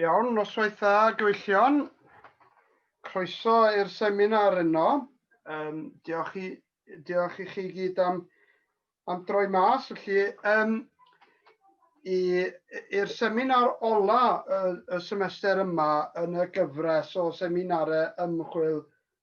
Iawn, noswaith dda, gyfeillion. Croeso i'r seminar yno. Um, diolch, i, diolch i chi gyd am, am droi mas. Felly, um, i'r seminar ola y, y semester yma yn y gyfres o seminarau ymchwil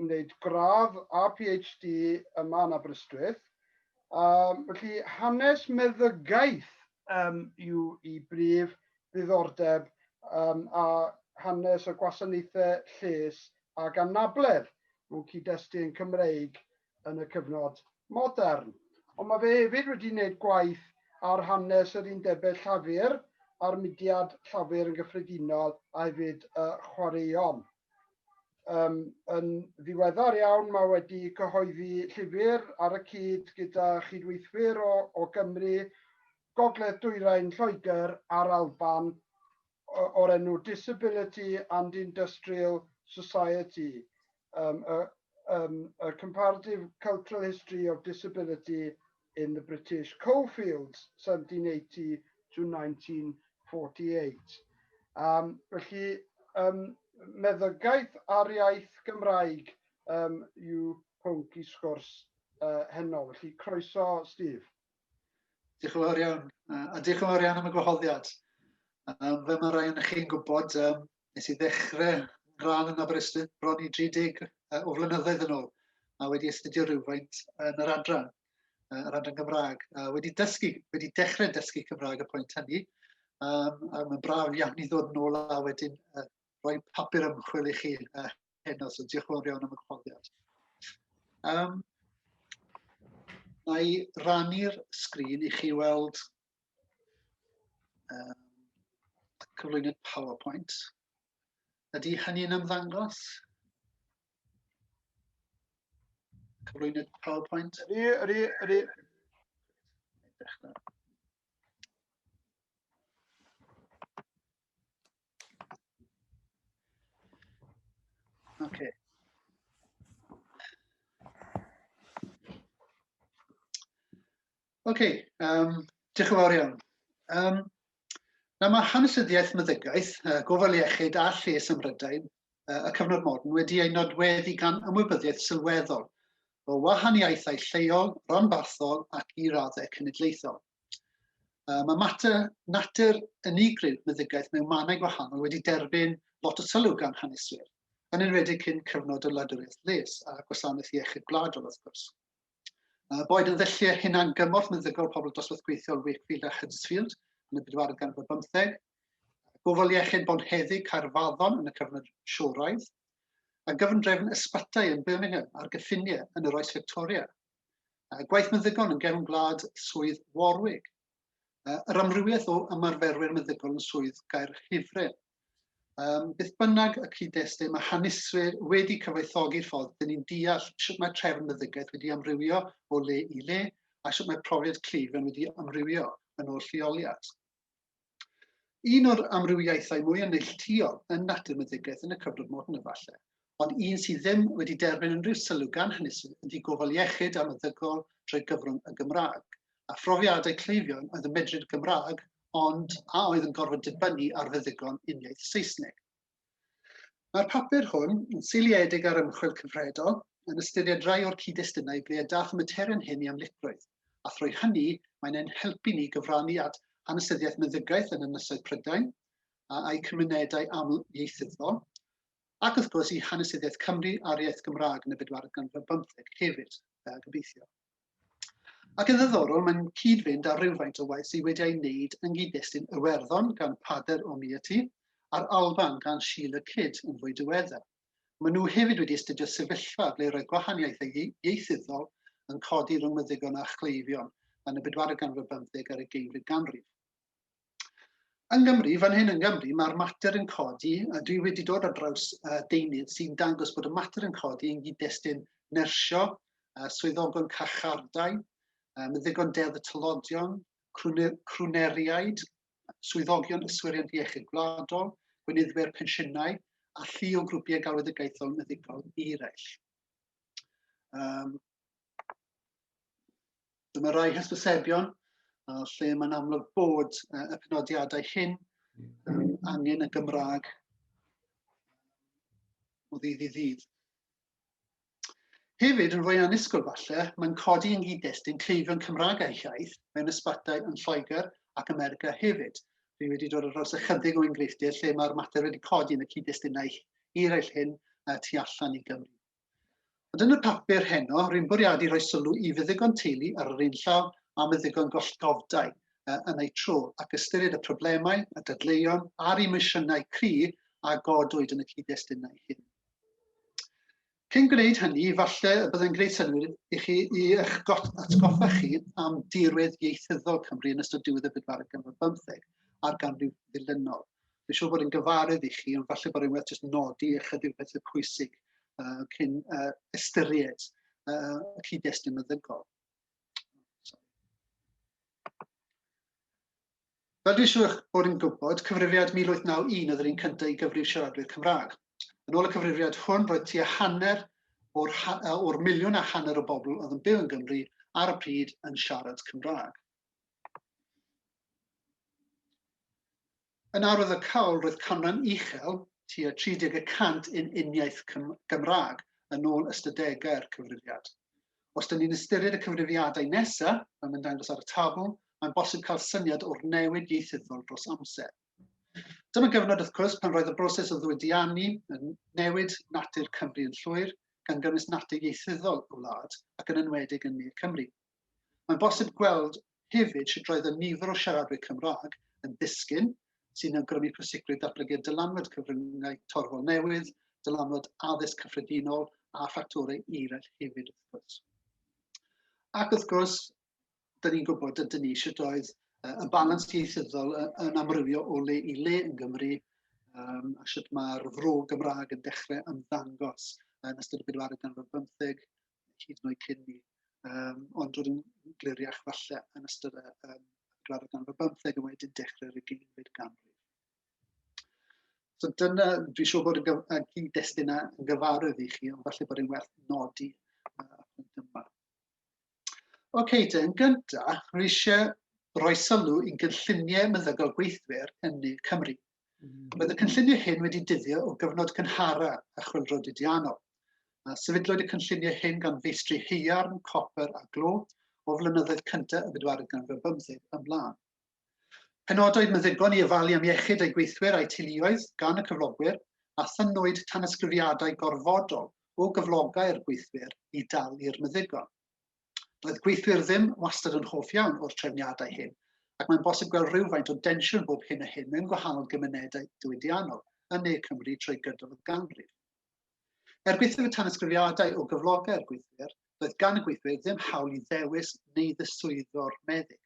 wneud gradd a PhD yma yn Aberystwyth. Um, felly hanes meddygaeth um, yw i brif ddiddordeb um, a hanes y gwasanaethau lles ac anabledd mewn cyd-destun yn Cymreig yn y cyfnod modern. Ond mae fe hefyd wedi gwneud gwaith ar hanes yr undebau llafur a'r mudiad llafur yn gyffredinol a hefyd y chwaraeon. Um, yn ddiweddar iawn mae wedi cyhoeddi llyfr ar y cyd gyda chydweithwyr o, o Gymru, Gogledd Dwyrain Lloegr a'r Alban o'r enw Disability and Industrial Society, um, a, um, a Comparative Cultural History of Disability in the British Coalfields, 1780 to 1948. Um, felly, um, meddygaeth ar iaith Gymraeg um, yw pwnc i sgwrs uh, heno. Felly, croeso, Steve. Diolch yn fawr iawn, a diolch yn fawr iawn am y gwahoddiad. Um, fe mae rhaid yn chi'n gwybod, um, nes i ddechrau rhan yn Aberystwyth bron i 30 o flynyddoedd yn ôl, a wedi astudio rhywfaint yn yr adran, yr adran Gymraeg. A wedi dysgu, wedi dechrau dysgu Cymraeg y pwynt hynny, um, a mae'n braf iawn i ddod yn ôl a wedyn uh, rhoi papur ymchwil i chi uh, heno, so diolch yn fawr iawn am y cyfoddiad. Um, na i rannu'r sgrin i chi weld Um, cyflwyniad PowerPoint. Ydy hynny'n ymddangos? Cyflwyniad PowerPoint? Ydy, ydy, ydy. Okay. Ok, um, diolch yn fawr iawn. Um, na mae hanesyddiaeth meddygaeth, uh, gofal iechyd a lles ym Mhrydain, uh, y cyfnod modern, wedi ei nodweddu gan ymwybyddiaeth sylweddol o wahaniaethau lleol, ranbarthol ac i raddau cenedlaethol. Uh, mae mater natur unigryw meddygaeth mewn mannau gwahanol wedi derbyn lot o sylw gan haneswyr, yn enwedig cyn cyfnod y wladwriaeth les a gwasanaeth iechyd gwladol wrth gwrs. Uh, boed yn ddelliau hunan gymorth meddygol pobl dosbarth gweithiol Wakefield a Huddersfield yn y bedwaredd gan o bymtheg, gofal iechyd bonheddig Caerfaddon yn y cyfnod sioraidd, a gyfundrefn ysbytai yn Birmingham ar gyffiniau yn yr oes Victoria. Uh, gwaith meddygon yn gefn gwlad swydd Warwick. Uh, yr amrywiaeth o ymarferwyr meddygol yn swydd gair Hifren. Um, beth bynnag y cyd-destun, mae haneswyr wedi cyfoethogi'r ffordd dyn ni'n deall sut mae trefn meddygaeth wedi amrywio o le i le a sut mae profiad cleifion wedi amrywio yn ôl lleoliad. Un o'r amrywiaethau mwy yn neilltuol yn natur meddygaeth yn y cyfnod modern efallai, ond un sydd ddim wedi derbyn unrhyw sylw gan hynny sydd yn ddi gofal iechyd a meddygol drwy gyfrwng y Gymraeg, a phrofiadau cleifion oedd yn medru'r Gymraeg ond a oedd yn gorfod dibynnu ar feddygon uniaith Saesneg. Mae'r papur hwn yn seiliedig ar ymchwil cyfredol yn ystyried rai o'r cyd-destunau ble y daeth y materion hyn i amlygrwydd, a thrwy hynny mae'n ein helpu ni gyfrannu at hanesyddiaeth meddygaeth yn Ynysoedd Prydain a'u cymunedau aml-ieithyddol, ac wrth gwrs i hanesyddiaeth Cymru a'r iaith Gymraeg yn y bedwaredd ganrif ar bymtheg hefyd, yy, gobeithio. Ac yn ddiddorol, mae'n cyd-fynd â rhywfaint o waith sydd wedi ei wneud yn gyd-destun Iwerddon gan Pader o Miati a'r Alban gan Sheila Kidd yn fwy diweddar. Maen nhw hefyd wedi astudio sefyllfa ble roedd gwahaniaethau ieithyddol yn codi rhwng meddygon a chleifion yn y bedwaredd ganrif ar bymtheg ar y geimfyd ganrif. Yng Nghymru, fan hyn yng Nghymru, mae'r mater yn codi, a dwi wedi dod ar draws uh, deunydd sy'n dangos bod y mater yn codi yn gyd-destun nersio, uh, swyddogon carchardai, uh, meddygon deddf y tylodion, crwneriaid, swyddogion yswiriant iechyd gwladol, gweinyddwyr pensiynau a llu o grwpiau galwedigaethol meddygol eraill. Um, Dyma rai hysbysebion a lle mae'n amlwg bod uh, y penodiadau hyn um, angen y Gymraeg o ddydd i ddydd. Hefyd, yn fwy anusgol falle, mae'n codi yn gyd-destun cleifion Cymraeg a'i hiaith mewn ysbatau yn Lloegr ac America hefyd. Dwi wedi dod ar draws ychydig o enghreifftiau lle mae'r mater wedi codi yn y cyd-destunau eraill hyn tu allan i Gymru. Ond yn y papur heno, rwy'n bwriadu rhoi sylw i feddygon teulu ar yr un llaw â meddygon gollgofdai yn eu tro, ac ystyried y problemau, y dadleuon a'r emosiynau cry a godwyd yn y cyd-destunau hyn. Cyn gwneud hynny, falle y byddai'n gwneud synnwyr i chi i eich atgoffa chi am dirwedd ieithyddol Cymru yn ystod diwedd y bedwaredd ganrif bymtheg a'r ganrif ddilynol. Dwi'n siŵr bod yn gyfarwydd i chi, ond falle bod rhywbeth jyst nodi ychydig pethau pwysig uh, cyn uh, ystyried uh, y cyd-destun meddygol. Fel dwi'n siŵr bod yn gwybod, cyfrifiad 1891 oedd yr un cyntaf i gyfrif siaradwyr Cymraeg. Yn ôl y cyfrifiad hwn, roedd tua hanner o'r, or miliwn a hanner o bobl oedd yn byw yn Gymru ar y pryd yn siarad Cymraeg. Yn ardd y cawl roedd canran uchel, tua 30 y cant yn uniaith Gymraeg, yn ôl ystadegau'r Cyfrifiad. Os dyn ni'n ystyried y cyfrifiadau nesa', fel mae'n dangos ar y tabl, mae'n bosib cael syniad o'r newid ieithyddol dros amser. Dyma gyfnod, wrth cwrs, pan roedd y broses o ddiwydiannu yn newid natur Cymru yn llwyr, gan gynnwys natur ieithyddol y wlad, ac yn enwedig yn Ne Cymru. Mae'n bosib gweld hefyd sut roedd y nifer o siaradwyr Cymraeg yn disgyn, sy'n awgrymu pwysigrwydd datblygu'r dylanwad cyfryngau torfol newydd, dylanwad addysg cyffredinol a ffactorau eraill hefyd wrth gwrs. Ac wrth gwrs, da ni'n gwybod ydyn ni sut oedd y balans ieithyddol yn amrywio o le i le yn Gymru um, a sut mae'r fro Gymraeg yn dechrau ymddangos yn ystod y bedwaredd ganrif bymtheg hyd yn oed cyn ni, um, ond roedd yn gliriach falle yn ystod y um, graddau ganrif y bymtheg a wedyn dechrau'r ugeinfed ganrif. So dyna, dwi'n siŵr bod y gyd-destun yn gyfarwydd i chi, ond falle bod e'n werth nodi uh, yma. Oce, okay, te, yn gyntaf, rwy eisiau rhoi sylw i'n gynlluniau meddygol gweithwyr yn ne Cymru, Roedd y cynlluniau hyn wedi dyddio o gyfnod cynhara a chwyldro didianol, a sefydlwyd y cynlluniau hyn gan feistri haearn, copr a glo o flynyddoedd cyntaf y bedwaredd ganrif bymtheg ymlaen. Penodwyd meddygon i ofalu am iechyd eu gweithwyr a'u teuluoedd gan y cyflogwyr, a thynnwyd tanysgrifiadau gorfodol o gyflogau'r gweithwyr i dalu'r meddygon. Doedd gweithwyr ddim wastad yn hoff iawn o'r trefniadau hyn, ac mae'n bosib gweld rhywfaint o densiwn bob hyn a hyn mewn gwahanol gymunedau diwydiannol yn ne Cymru trwy gydol y ganrif. Er gwaethaf y tanysgrifiadau o gyflogau'r gweithwyr, doedd gan y gweithwyr ddim hawl i ddewis neu ddiswyddo'r meddyg.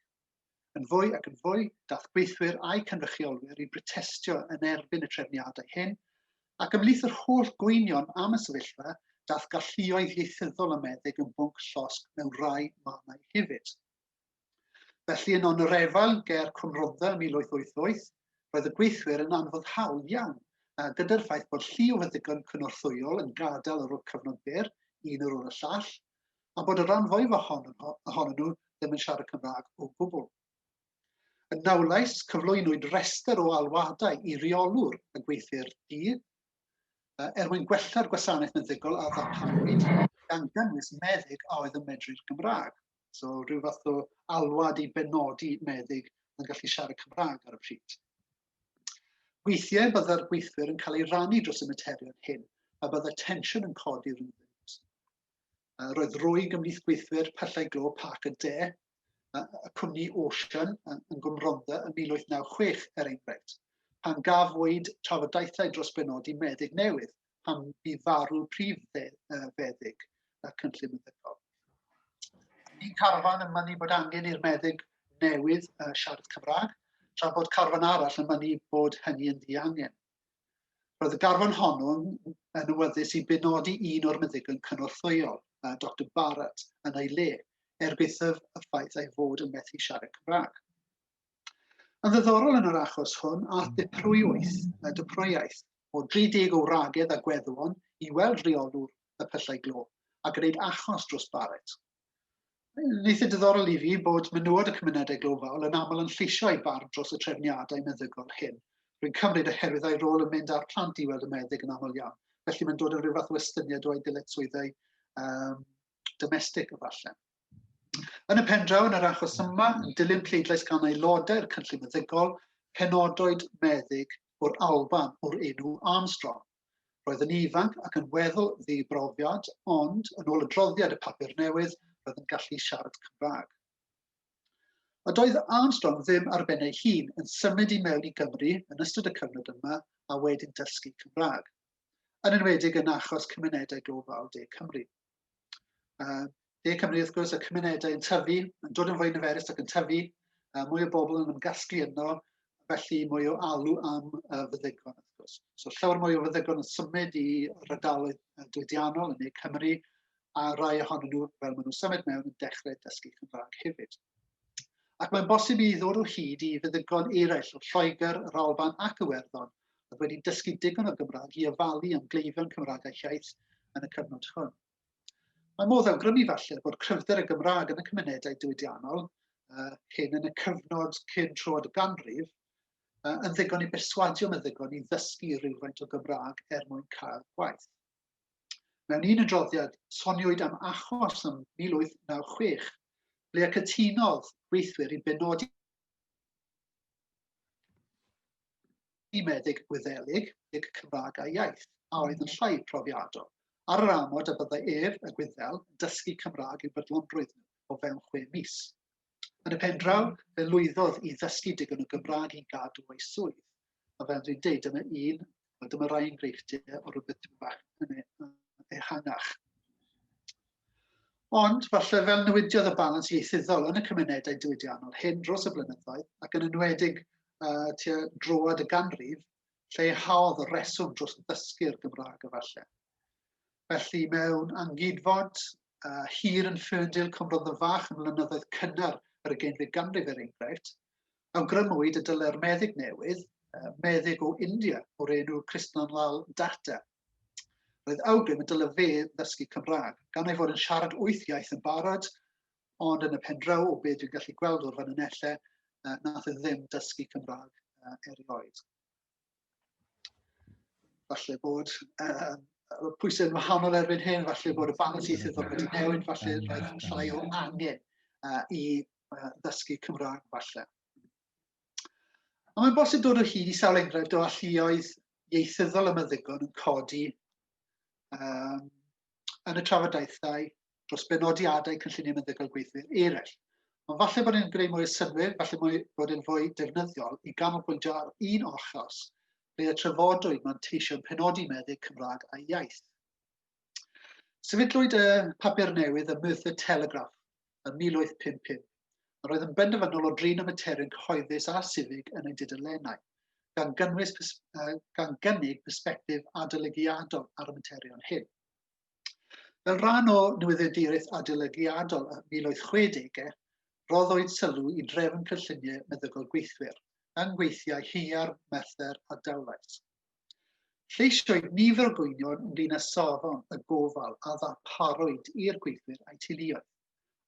yn fwy ac yn fwy daeth gweithwyr a'u cynrychiolwyr i brotestio yn erbyn y trefniadau hyn, ac ymhlith yr holl gwynion am y sefyllfa, daeth galluoedd ieithyddol a meddyg yn bwnc llosg mewn rhai mannau hefyd. Felly yno yn yr efail ger Cwm Rhondda ym 1888, roedd y gweithwyr yn anfoddhaol iawn, a gyda'r ffaith bod llu o feddygon cynorthwyol yn gadael ar ôl cyfnod byr, un ar ôl y llall, a bod y rhan fwyaf ohonyn nhw ddim yn siarad Cymraeg o gwbl. Yn Nawlais, cyflwynwyd rhestr o alwadau i reolwr y gweithwyr di er mwyn gwella'r gwasanaeth meddygol a ddarparwyd gan gynnwys meddyg a oedd yn medru'r Gymraeg. So rhyw fath o alwad i benodi meddyg yn gallu siarad Cymraeg ar y pryd. Weithiau byddai'r gweithwyr yn cael ei rannu dros y materion hyn a byddai tensiwn yn codi rhwng Uh, roedd rwyg ymhlith gweithwyr Pyllau Glo Parc y De, uh, y cwmni Ocean uh, yn Gwmronda yn 1896, er enghraifft, pan gafwyd trafodaethau dros benodi meddyg newydd pan bu farw prif feddyg y cynllun meddygol. Ni'n carfan yn mynnu bod angen i'r meddyg newydd uh, siarad Cymraeg, tra bod carfan arall yn mynnu bod hynny yn ddiangen. Roedd y garfan honno yn awyddus i benodi un o'r meddygon cynorthwyol, Dr Barrett, yn ei le, er gwaethaf y ffaith ei fod yn methu siarad Cymraeg. Yn ddiddorol yn yr achos hwn, a ddiprwywaeth, y dyprwywaeth, o 30 o wragedd a gweddwon i weld rheolwr y pyllau glo a gwneud achos dros Barrett. Yn eitha diddorol i fi bod menywod y cymunedau glofaol yn aml yn lleisio eu barn dros y trefniadau meddygol hyn. Rwy'n cymryd oherwydd ei rôl yn mynd â'r plant i weld y meddyg yn aml iawn, felly mae'n dod yn rhyw fath o estyniad o ei ddyletswyddau um, domestig efallai. Yn y pen draw yn yr achos yma, yn dilyn pleidlais gan aelodau'r cynllun meddygol, penodwyd meddyg o'r Alban o'r enw Armstrong. Roedd yn ifanc ac yn weddol ddibrofiad, ond, yn ôl adroddiad y papur newydd, roedd yn gallu siarad Cymraeg. A doedd Armstrong ddim ar ben ei hun yn symud i mewn i Gymru yn ystod y cyfnod yma a wedyn dysgu Cymraeg, yn enwedig yn achos cymunedau gofal De Cymru. Uh, De Cymru, wrth gwrs, y cymunedau yn tyfu, yn dod yn fwy niferus ac yn tyfu, uh, mwy o bobl yn ymgasglu yno, felly mwy o alw am uh, fyddegon, wrth gwrs. So llawer mwy o fyddegon yn symud i rydaloedd diwydiannol yn ei Cymru, a rai ohonyn nhw, fel maen nhw'n symud mewn, yn dechrau dysgu Cymraeg hefyd. Ac mae'n bosib i ddod o hyd i fyddegon eraill o Lloegr, yr Alban ac Iwerddon, oedd wedi dysgu digon o Gymraeg i ofalu am gleifion Cymraeg a Hiaith yn y cyfnod hwn. Mae modd awgrymu falle bod cryfder y Gymraeg yn y cymunedau diwydiannol uh, hyn yn y cyfnod cyn troed y ganrif uh, yn ddigon i berswadio meddygon i ddysgu rhywfaint o Gymraeg er mwyn cael gwaith. Mewn un adroddiad, soniwyd am achos ym 1896 ble cytunodd gweithwyr i benodi i meddyg Gwyddelig deg Cymraeg a Iaith, a oedd yn llai profiadol, ar yr amod y byddai ef, y Gwyddel, yn dysgu Cymraeg i'w brydlonrwydd nhw o fewn chwe mis. Yn y pen draw, fe lwyddodd i ddysgu digon o Gymraeg i gadw ei swydd, a fel dwi'n deud, dyna un A dyma rai enghreifftiau o rhywbeth tipyn bach yn e, ehangach. Ond, falle fel newidiodd y balans ieithyddol yn y cymunedau diwydiannol hyn dros y blynyddoedd, ac yn enwedig uh, tua droad y ganrif, lleihhaodd y reswm dros ddysgu'r Gymraeg efallai. Felly mewn angydfod uh, hir yn ffyrndil Cymrodd y Fach yn mlynyddoedd cynnar yr ugeinfed ganrif er enghraifft, Awgrymwyd y dylai'r meddyg newydd, meddyg o India o'r enw Krishnan Lal Datta, roedd awgrym y dylai fe ddysgu Cymraeg, gan ei fod yn siarad wyth iaith yn barod, ond yn y pen draw o beth dwi'n gallu gweld o'r fanynellau, nath e ddim dysgu Cymraeg erioed. Falle bod uh, pwysau yn wahanol erbyn hyn, falle bod y balans ieithyddol wedi newid, falle roedd llai o angen uh, i ddysgu Cymraeg falle. Ond mae'n bosib dod o hyd i sawl enghraifft o alluoedd ieithyddol y meddygon yn codi um, yn y trafodaethau dros benodiadau cynlluniau meddygol gweithwyr eraill. Ond falle bod e'n greu mwy o synwyr, falle mwy, bod e'n fwy defnyddiol i ganolbwyntio ar un ochos ble y trafodwyd mae'n teisio penodi meddyg Cymraeg a iaith. Sefydlwyd y papur newydd y Myth y Telegraph yn 1855. Yr oedd yn benderfynol o drin y materion cyhoeddus a sifig yn ei dudalennau, gan, gynnwys, uh, gan gynnig persbectif adolygiadol ar y materion hyn. Fel rhan o newyddiaduraeth adolygiadol y 1860, roddwyd sylw i drefn cynlluniau meddygol gweithwyr, yng ngweithiau Hiar, Merthyr a Dowlais. Lleisioed nifer o gwynion ynglyn â safon y gofal a ddarparwyd i'r gweithwyr a'u teuluoedd,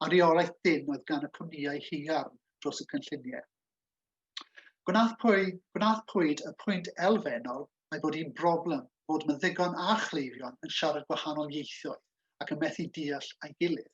a reolaeth dynn oedd gan y cwmnïau haearn dros y cynlluniau. Gwnaethpwyd y pwynt elfennol a'i bod hi'n broblem fod meddygon a chleifion yn siarad gwahanol ieithoedd ac yn methu deall a'i gilydd.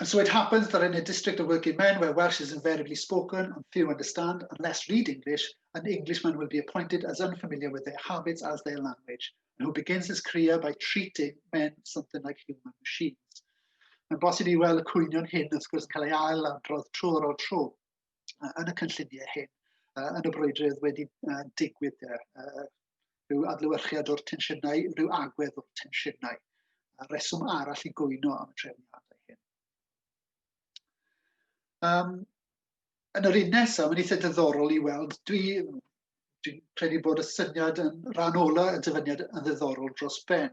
And so it happens that in a district of working men where Welsh is invariably spoken and few understand and less read English, an Englishman will be appointed as unfamiliar with their habits as their language, and who begins his career by treating men something like human machines. Mae'n bosib i weld y cwynion hyn wrth gwrs yn cael ei ail adrodd tro ar ôl tro yn y cynlluniau hyn, yn y brwydrydd wedi digwydd rhyw adlewyrchiad o'r tensiynau, rhyw agwedd o'r tensiynau, a reswm arall i gwyno am y trefniadau hyn. Um, yn yr un nesaf, mae'n eitha diddorol i weld, dwi, dwi'n credu bod y syniad yn rhan ola y dyfyniad yn ddiddorol dros ben.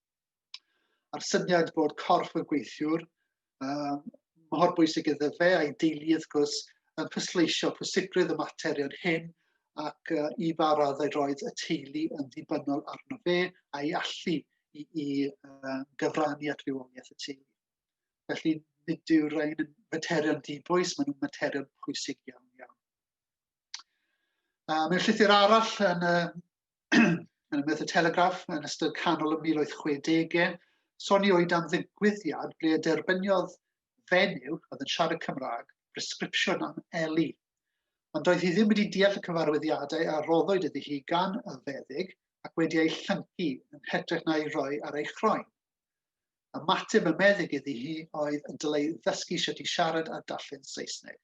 A'r syniad bod corff y gweithiwr um, mor bwysig iddo fe a'i deulu wrth gwrs yn pwysleisio pwysigrwydd y materion hyn ac uh, i ba raddau roedd y teulu yn ddibynnol arno fe a'i allu i, i uh, gyfrannu at fywoliaeth y teulu. Felly, nid yw'r rhain yn materion dibwys, maen nhw'n materion pwysig iawn iawn. Uh, mewn llythyr arall yn uh, yn y Telegraph yn ystod canol y 1860au, soniwyd am ddigwyddiad ble y derbyniodd fenyw oedd yn siarad Cymraeg bresgripsiwn am Eli. Ond doedd hi ddim wedi deall y cyfarwyddiadau a roddwyd iddi hi gan y feddyg ac wedi ei llyncu yn hytrach na'i roi ar ei chroen. Ymateb y meddyg iddi hi oedd y dylai ddysgu sut i siarad a darllen Saesneg.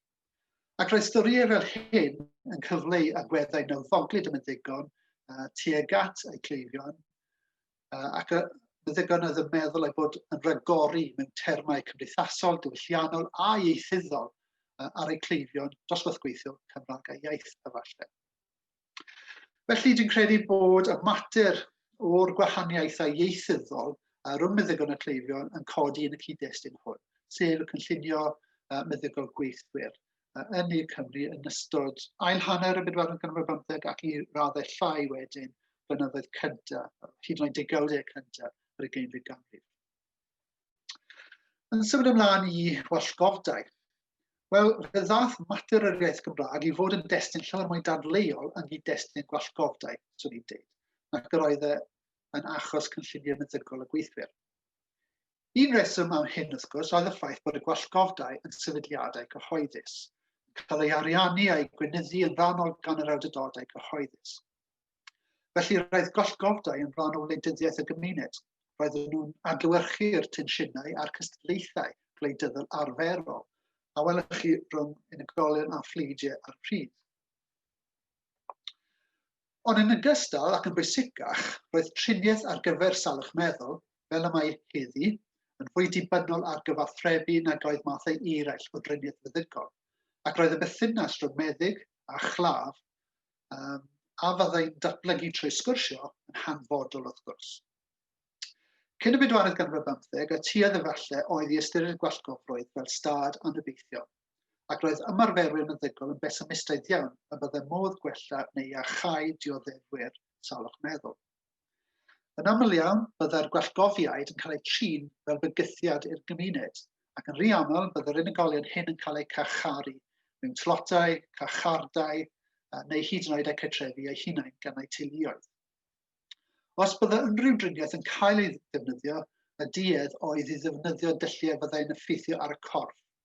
Ac roedd storïau fel hyn yn cyfleu agweddau nawddoglyd y meddygon uh, tuag at eu cleifion, uh, ac y meddygon oedd yn meddwl ei bod yn rhagori mewn termau cymdeithasol, diwylliannol a ieithyddol uh, ar eu cleifion dosbarth gweithiol Cymraeg a iaith efallai. Felly, dwi'n credu bod y mater o'r gwahaniaethau ieithyddol rhwng meddygon a cleifion yn codi yn y cyd-destun hwn, sef y cynllunio meddygol gweithwyr yn ne Cymru yn ystod ail hanner y bedwaredd ganrif bymtheg ac i raddau llai wedyn blynyddoedd cyntaf, hyd yn oed degawdau cyntaf yr ugeinfed ganrif. Yn symud ymlaen i wallgofdau. Wel, fe ddath mater yr iaith Gymraeg i fod yn destun llawer mwy dadleuol yn gyd destun gwallgofdau, swn i'n dweud, nac yr oedd e yn achos cynllunio meddygol y gweithwyr. Un reswm am hyn, wrth gwrs, oedd y ffaith bod y gwallgofdau yn sefydliadau cyhoeddus, cael ei ariannu a'i gweinyddu yn rhannol gan yr awdurdodau cyhoeddus. Felly roedd gollgordai yn rhan o wleidyddiaeth y gymuned. Roedden nhw'n adlewyrchu'r tensiynau a'r cystadlaethau gwleidyddol arferol a welwch chi rhwng unigolion a phleidiau ar y pryd. Ond yn ogystal ac yn bwysicach, roedd triniaeth ar gyfer salwch meddwl, fel y mae heddi, yn fwy dibynnol ar gyfathrebu nag oedd mathau eraill o driniaeth feddygon, ac roedd y bethynas rhwng meddyg a chlaf Um, a fyddai'n datblygu trwy sgwrsio yn hanfodol wrth gwrs. Cyn y bedwaredd ganrif ar bymtheg, y tuedd efallai oedd i ystyried gwallgofrwydd fel stad anobeithiol, ac roedd ymarferwyr meddygol yn besimistaidd iawn y byddai modd gwella neu iachau dioddefwyr salwch meddwl. Yn aml iawn, byddai'r gwellgofiaid yn cael eu trin fel bygythiad i'r gymuned, ac yn rhy aml bydd yr unigolion hyn yn cael eu carcharu mewn tlotau, carchardai, neu hyd yn oed eu cartrefu eu hunain gan eu teuluoedd. Os byddai unrhyw driniaeth yn cael ei ddefnyddio, y duedd oedd i ddefnyddio dylliau fyddai'n effeithio ar y corff,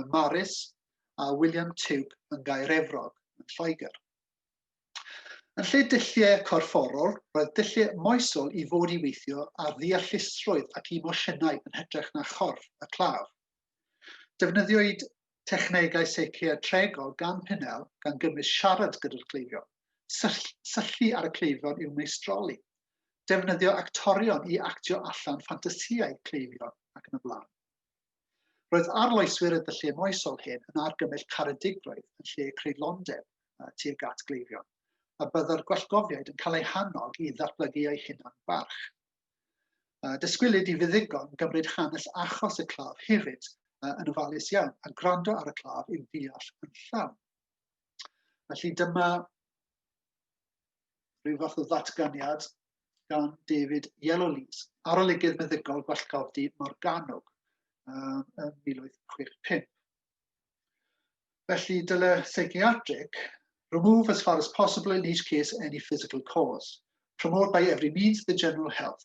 ym Mharis a William Tube yn Gaer Efrog yn Lloegr. Yn lle dulliau corfforol, roedd dulliau moesol i fod i weithio ar ddeallusrwydd ac emosiynau yn hytrach na chorff y claf. Defnyddiwyd technegau seiciatregol gan Pinnell gan gynnwys siarad gyda'r cleifion, syllu ar y cleifion i'w meistroli, defnyddio actorion i actio allan ffantasïau cleifion ac yn y blaen. Roedd arloeswyr y dyllu moesol hyn yn argymell caredigrwydd yn lle creidlondeb tuag at gleifion, a byddai'r gwallgofiaid yn cael eu hannog i ddatblygu eu hunan barch. Dysgwylid i fuddigon gymryd hanes achos y claf hefyd yn ofalus iawn a gwrando ar y claf i'w ddeall yn llawn. Felly dyma rhyw fath o ddatganiad gan David Yellowlees, arolygydd meddygol Gwallgofdi Morgannwg um, yn 1865. Felly, dyle psychiatric remove as far as possible in each case any physical cause, promote by every means the general health,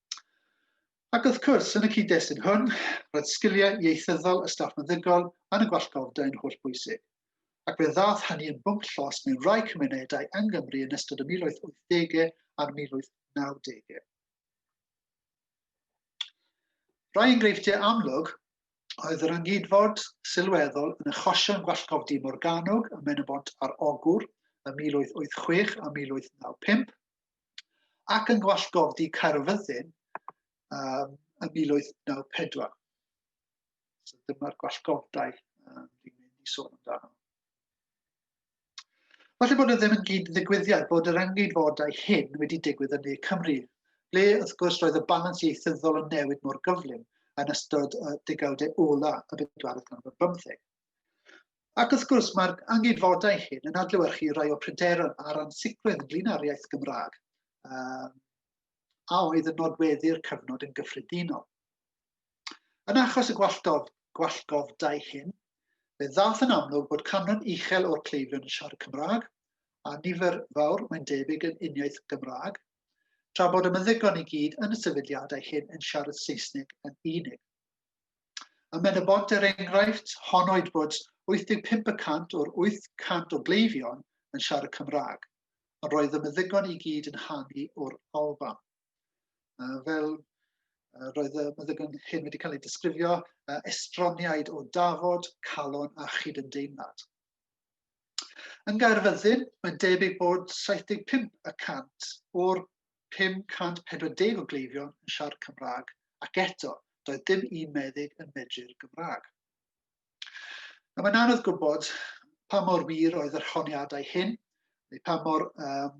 Ac wrth cwrs, yn y cyd-destun hwn, roedd sgiliau ieithyddol y staff meddygol yn y gwallgofda yn holl bwysig, ac fe ddaeth hynny yn bwnc llos mewn rhai cymunedau yng Nghymru yn ystod y 1880au a'r 1990au. Rhai enghreifftiau amlwg oedd yr ynghydfod sylweddol yn achosion gwallgofdy Morgannwg ym Mhen-y-bont ar Ogwr ym 1886 a 1895, ac yn gwallgofdi Caerfyddin um, yn 1894. So dyma'r gwallgofdau um, dwi'n mynd i sôn amdano. Falle bod e ddim yn gyd ddigwyddiad bod yr engeidfodau hyn wedi digwydd yn ne Cymru, ble wrth gwrs roedd y balans ieithyddol yn newid mor gyflym yn ystod y degawdau ola y bedwaredd ganrif bymtheg. Ac wrth gwrs, mae'r anghydfodau hyn yn adlewyrchu rai o pryderon a'r ansicrwydd ynglyn â'r iaith Gymraeg, um, a oedd yn nodweddu'r cyfnod yn gyffredinol. Yn achos y gwalltof, gwallgofdau hyn, fe ddath yn amlwg bod canran uchel o'r cleifion yn siarad Cymraeg, a nifer fawr, mae'n debyg, yn uniaith Gymraeg, tra bod y meddygon i gyd yn y sefydliadau hyn yn siarad Saesneg yn unig. Y menywod er enghraifft, honoed bod 85 y cant o'r 800 o gleifion yn siarad Cymraeg, ond roedd y meddygon i gyd yn hanu o'r Alban. Uh, fel uh, roedd y meddygon hyn wedi cael ei disgrifio, uh, estroniaid o dafod, calon a chyd yn deimlad. Yn Gaerfyddin, mae'n debyg bod 75 y cant o'r 540 o gleifion yn siarad Cymraeg ac eto, doedd dim un meddyg yn medru'r Gymraeg. A mae'n anodd gwybod pa mor wir oedd yr honiadau hyn, neu pa mor um,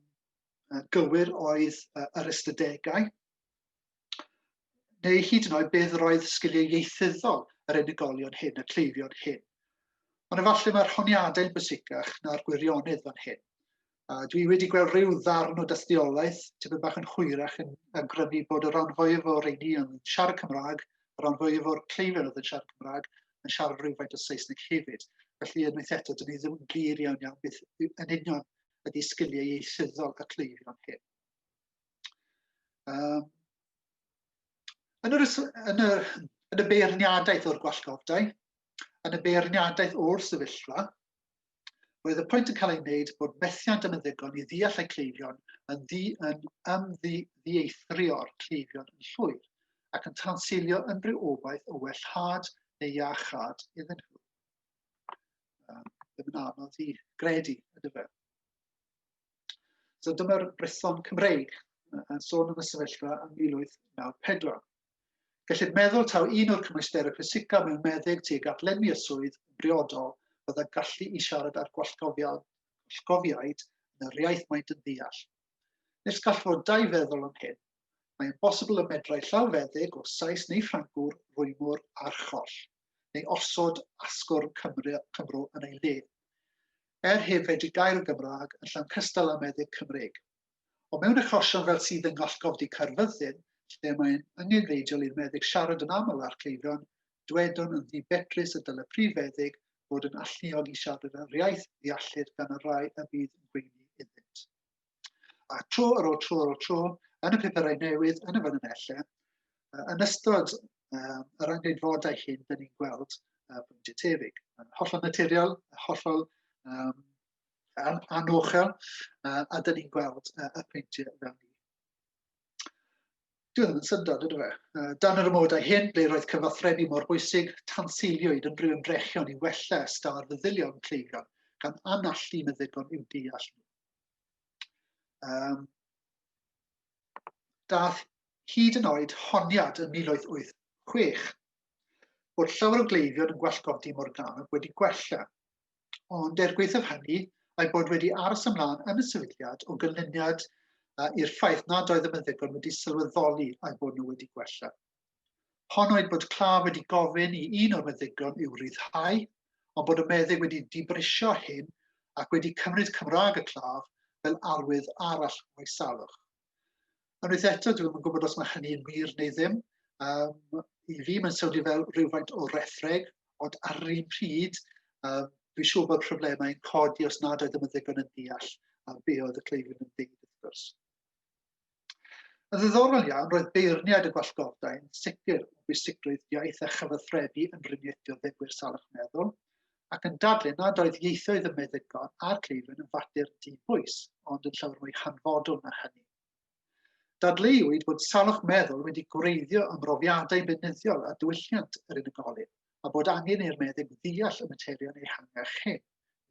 gywir oedd uh, yr ystadegau, neu hyd yn oed beth yr oedd sgiliau ieithyddol yr unigolion hyn, y cleifion hyn. Ond efallai mae'r honiadau'n bwysicach na'r gwirionedd fan hyn. A dwi wedi gweld rhyw ddarn o dystiolaeth, tipyn bach yn hwyrach yn awgrymu bod y rhan fwyaf o'r rheini yn siarad Cymraeg, y rhan fwyaf o'r cleifion oedd yn siarad Cymraeg, yn siarad rhywfaint o Saesneg hefyd. Felly, unwaith eto, dyn ni ddim yn glir iawn iawn beth yn union ydy sgiliau ieithyddol y cleifion hyn. Um, yn, yr, yn, y, yn y beirniadaeth o'r gwallgofdau, yn y beirniadaeth o'r sefyllfa, Roedd y pwynt yn cael ei wneud bod methiant yn ddigon i ddeall eu cleifion yn, ddi, yn ymddieithrio'r cleifion yn llwyr ac yn tanseilio unrhyw obaith o wellhad neu iachad iddyn nhw. Um, ddim yn anodd i gredu, ydy fe. So dyma'r brethon Cymreig yn sôn am y sefyllfa yn 1894. Gellid meddwl taw un o'r cymwysterau pwysicaf mewn meddyg tuag at lenwi y swydd yn briodol oedd y gallu i siarad â'r gwallgofiaid yn yr iaith maent yn ddeall. Nes gall fod dau feddwl am hyn. Mae'n bosibl y medrai llawfeddyg o Sais neu Ffrancwr rwymwr archoll, neu osod asgwrn Cymru, Cymro yn ei le. Er hyn, fedri gair yn Gymraeg yn llawn cystal â meddyg Cymreig. Ond mewn achosion fel sydd yng Ngollgofdy Caerfyrddin, lle mae'n angenrheidiol i'r meddyg siarad yn aml â'r cleifion, dywedwn yn ddifedrus y dylai prif feddyg fod yn alluog i siarad yr iaith ddeallir gan y rai y bydd yn gweini iddynt. A tro ar ôl tro ar ôl tro, yn y pupurau newydd, yn y fan yn elle, yn ystod um, yr angenfodau hyn, dyn ni'n gweld uh, pwyntiau tebyg. Yn hollol naturiol, hollol um, um, anochel, uh, a dyn ni'n gweld uh, y peintiau fel ni. Dwi ddim yn syndod, ydw e. Uh, dan yr ymwydau hyn, ble roedd cyfathrebu mor bwysig, tanseiliwyd yn rhyw ymdrechion i wella ystâl ar feddylion cleifion, gan anallu meddygon i'w deall nhw. Um, dath hyd yn oed honiad yn 1886 bod llawer o gleifion yn gwellgodi Morganwg wedi gwella Ond er gwaethaf hynny, a'i bod wedi aros ymlaen yn y sefydliad o gynlyniad i'r ffaith nad oedd y meddygon wedi sylweddoli a'i bod nhw wedi gwella. Hon oedd bod claf wedi gofyn i un o'r meddygon i'w ryddhau, ond bod y meddyg wedi dibrisio hyn ac wedi cymryd Cymraeg y claf fel arwydd arall o'i salwch. Unwaith eto, dwi ddim yn gwybod os mae hynny'n wir neu ddim. Um, I fi, mae'n swnio fel rhywfaint o rethreg, ond ar yr un pryd, um, dwi'n siŵr bod problemau'n codi os nad oeddem yn ddigon yn deall a be oedd y cleifion yn dweud, wrth gwrs. Yn ddiddorol iawn, roedd beirniad y gwallgofdau'n sicr o bwysigrwydd iaith a chyfathrebu yn rhyngweithio ddegwyr salwch meddwl, ac yn dadlu nad oedd ieithoedd y meddygon a'r cleifion yn fater di-bwys, ond yn llawer mwy hanfodol na hynny. Dadleuwyd bod salwch meddwl wedi gwreiddio ymrofiadau beunyddiol a diwylliant yr unigolyn, a bod angen i'r meddyg ddeall y materion ehangach hyn,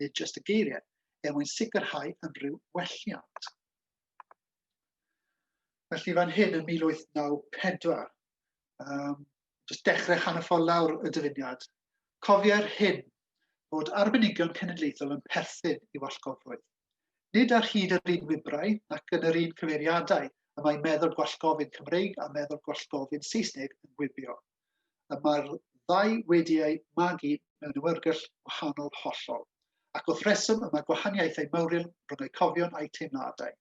nid jyst y geiriau, er mwyn sicrhau unrhyw welliant. Felly fan hyn yn 1894, um, jyst dechrau hanner ffordd lawr y dyfuniad, cofiai'r hyn fod arbenigion cenedlaethol yn perthyn i wallgofrwydd. Nid ar hyd yr un wibrau nac yn yr un cyfeiriadau y mae meddwl gwallgofyn Cymreig a meddwl gwallgofyn Saesneg yn gwibio. Y mae'r ddau wedi eu magu mewn ymwyrgell wahanol hollol, ac wrth reswm y mae gwahaniaethau mawrion rhwng eu cofion a'u teimladau.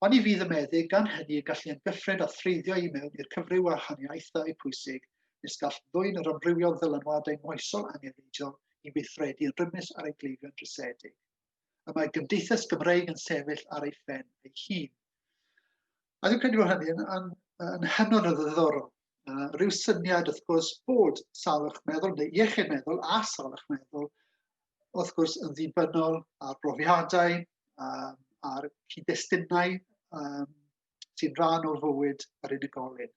Oni fydd y meddyg gan hynny y gallu yn dyffryn a threiddio i mewn i'r cyfryw wahaniaethau pwysig nes gall ddwyn yr amrywiol ddylanwadau moesol angenrheidiol i weithredu yn rymus ar ein gleifion drysedig. Y mae gymdeithas Gymreig yn sefyll ar ei phen ei hun. A dwi'n credu bod hynny yn, yn, yn hynod o ddiddorol. Uh, rhyw syniad, wrth gwrs, bod salwch meddwl neu iechyd meddwl a salwch meddwl, wrth gwrs, yn ddibynnol ar brofiadau, um, ar cyd-destunau um, sy'n rhan o fywyd yr unigolyn.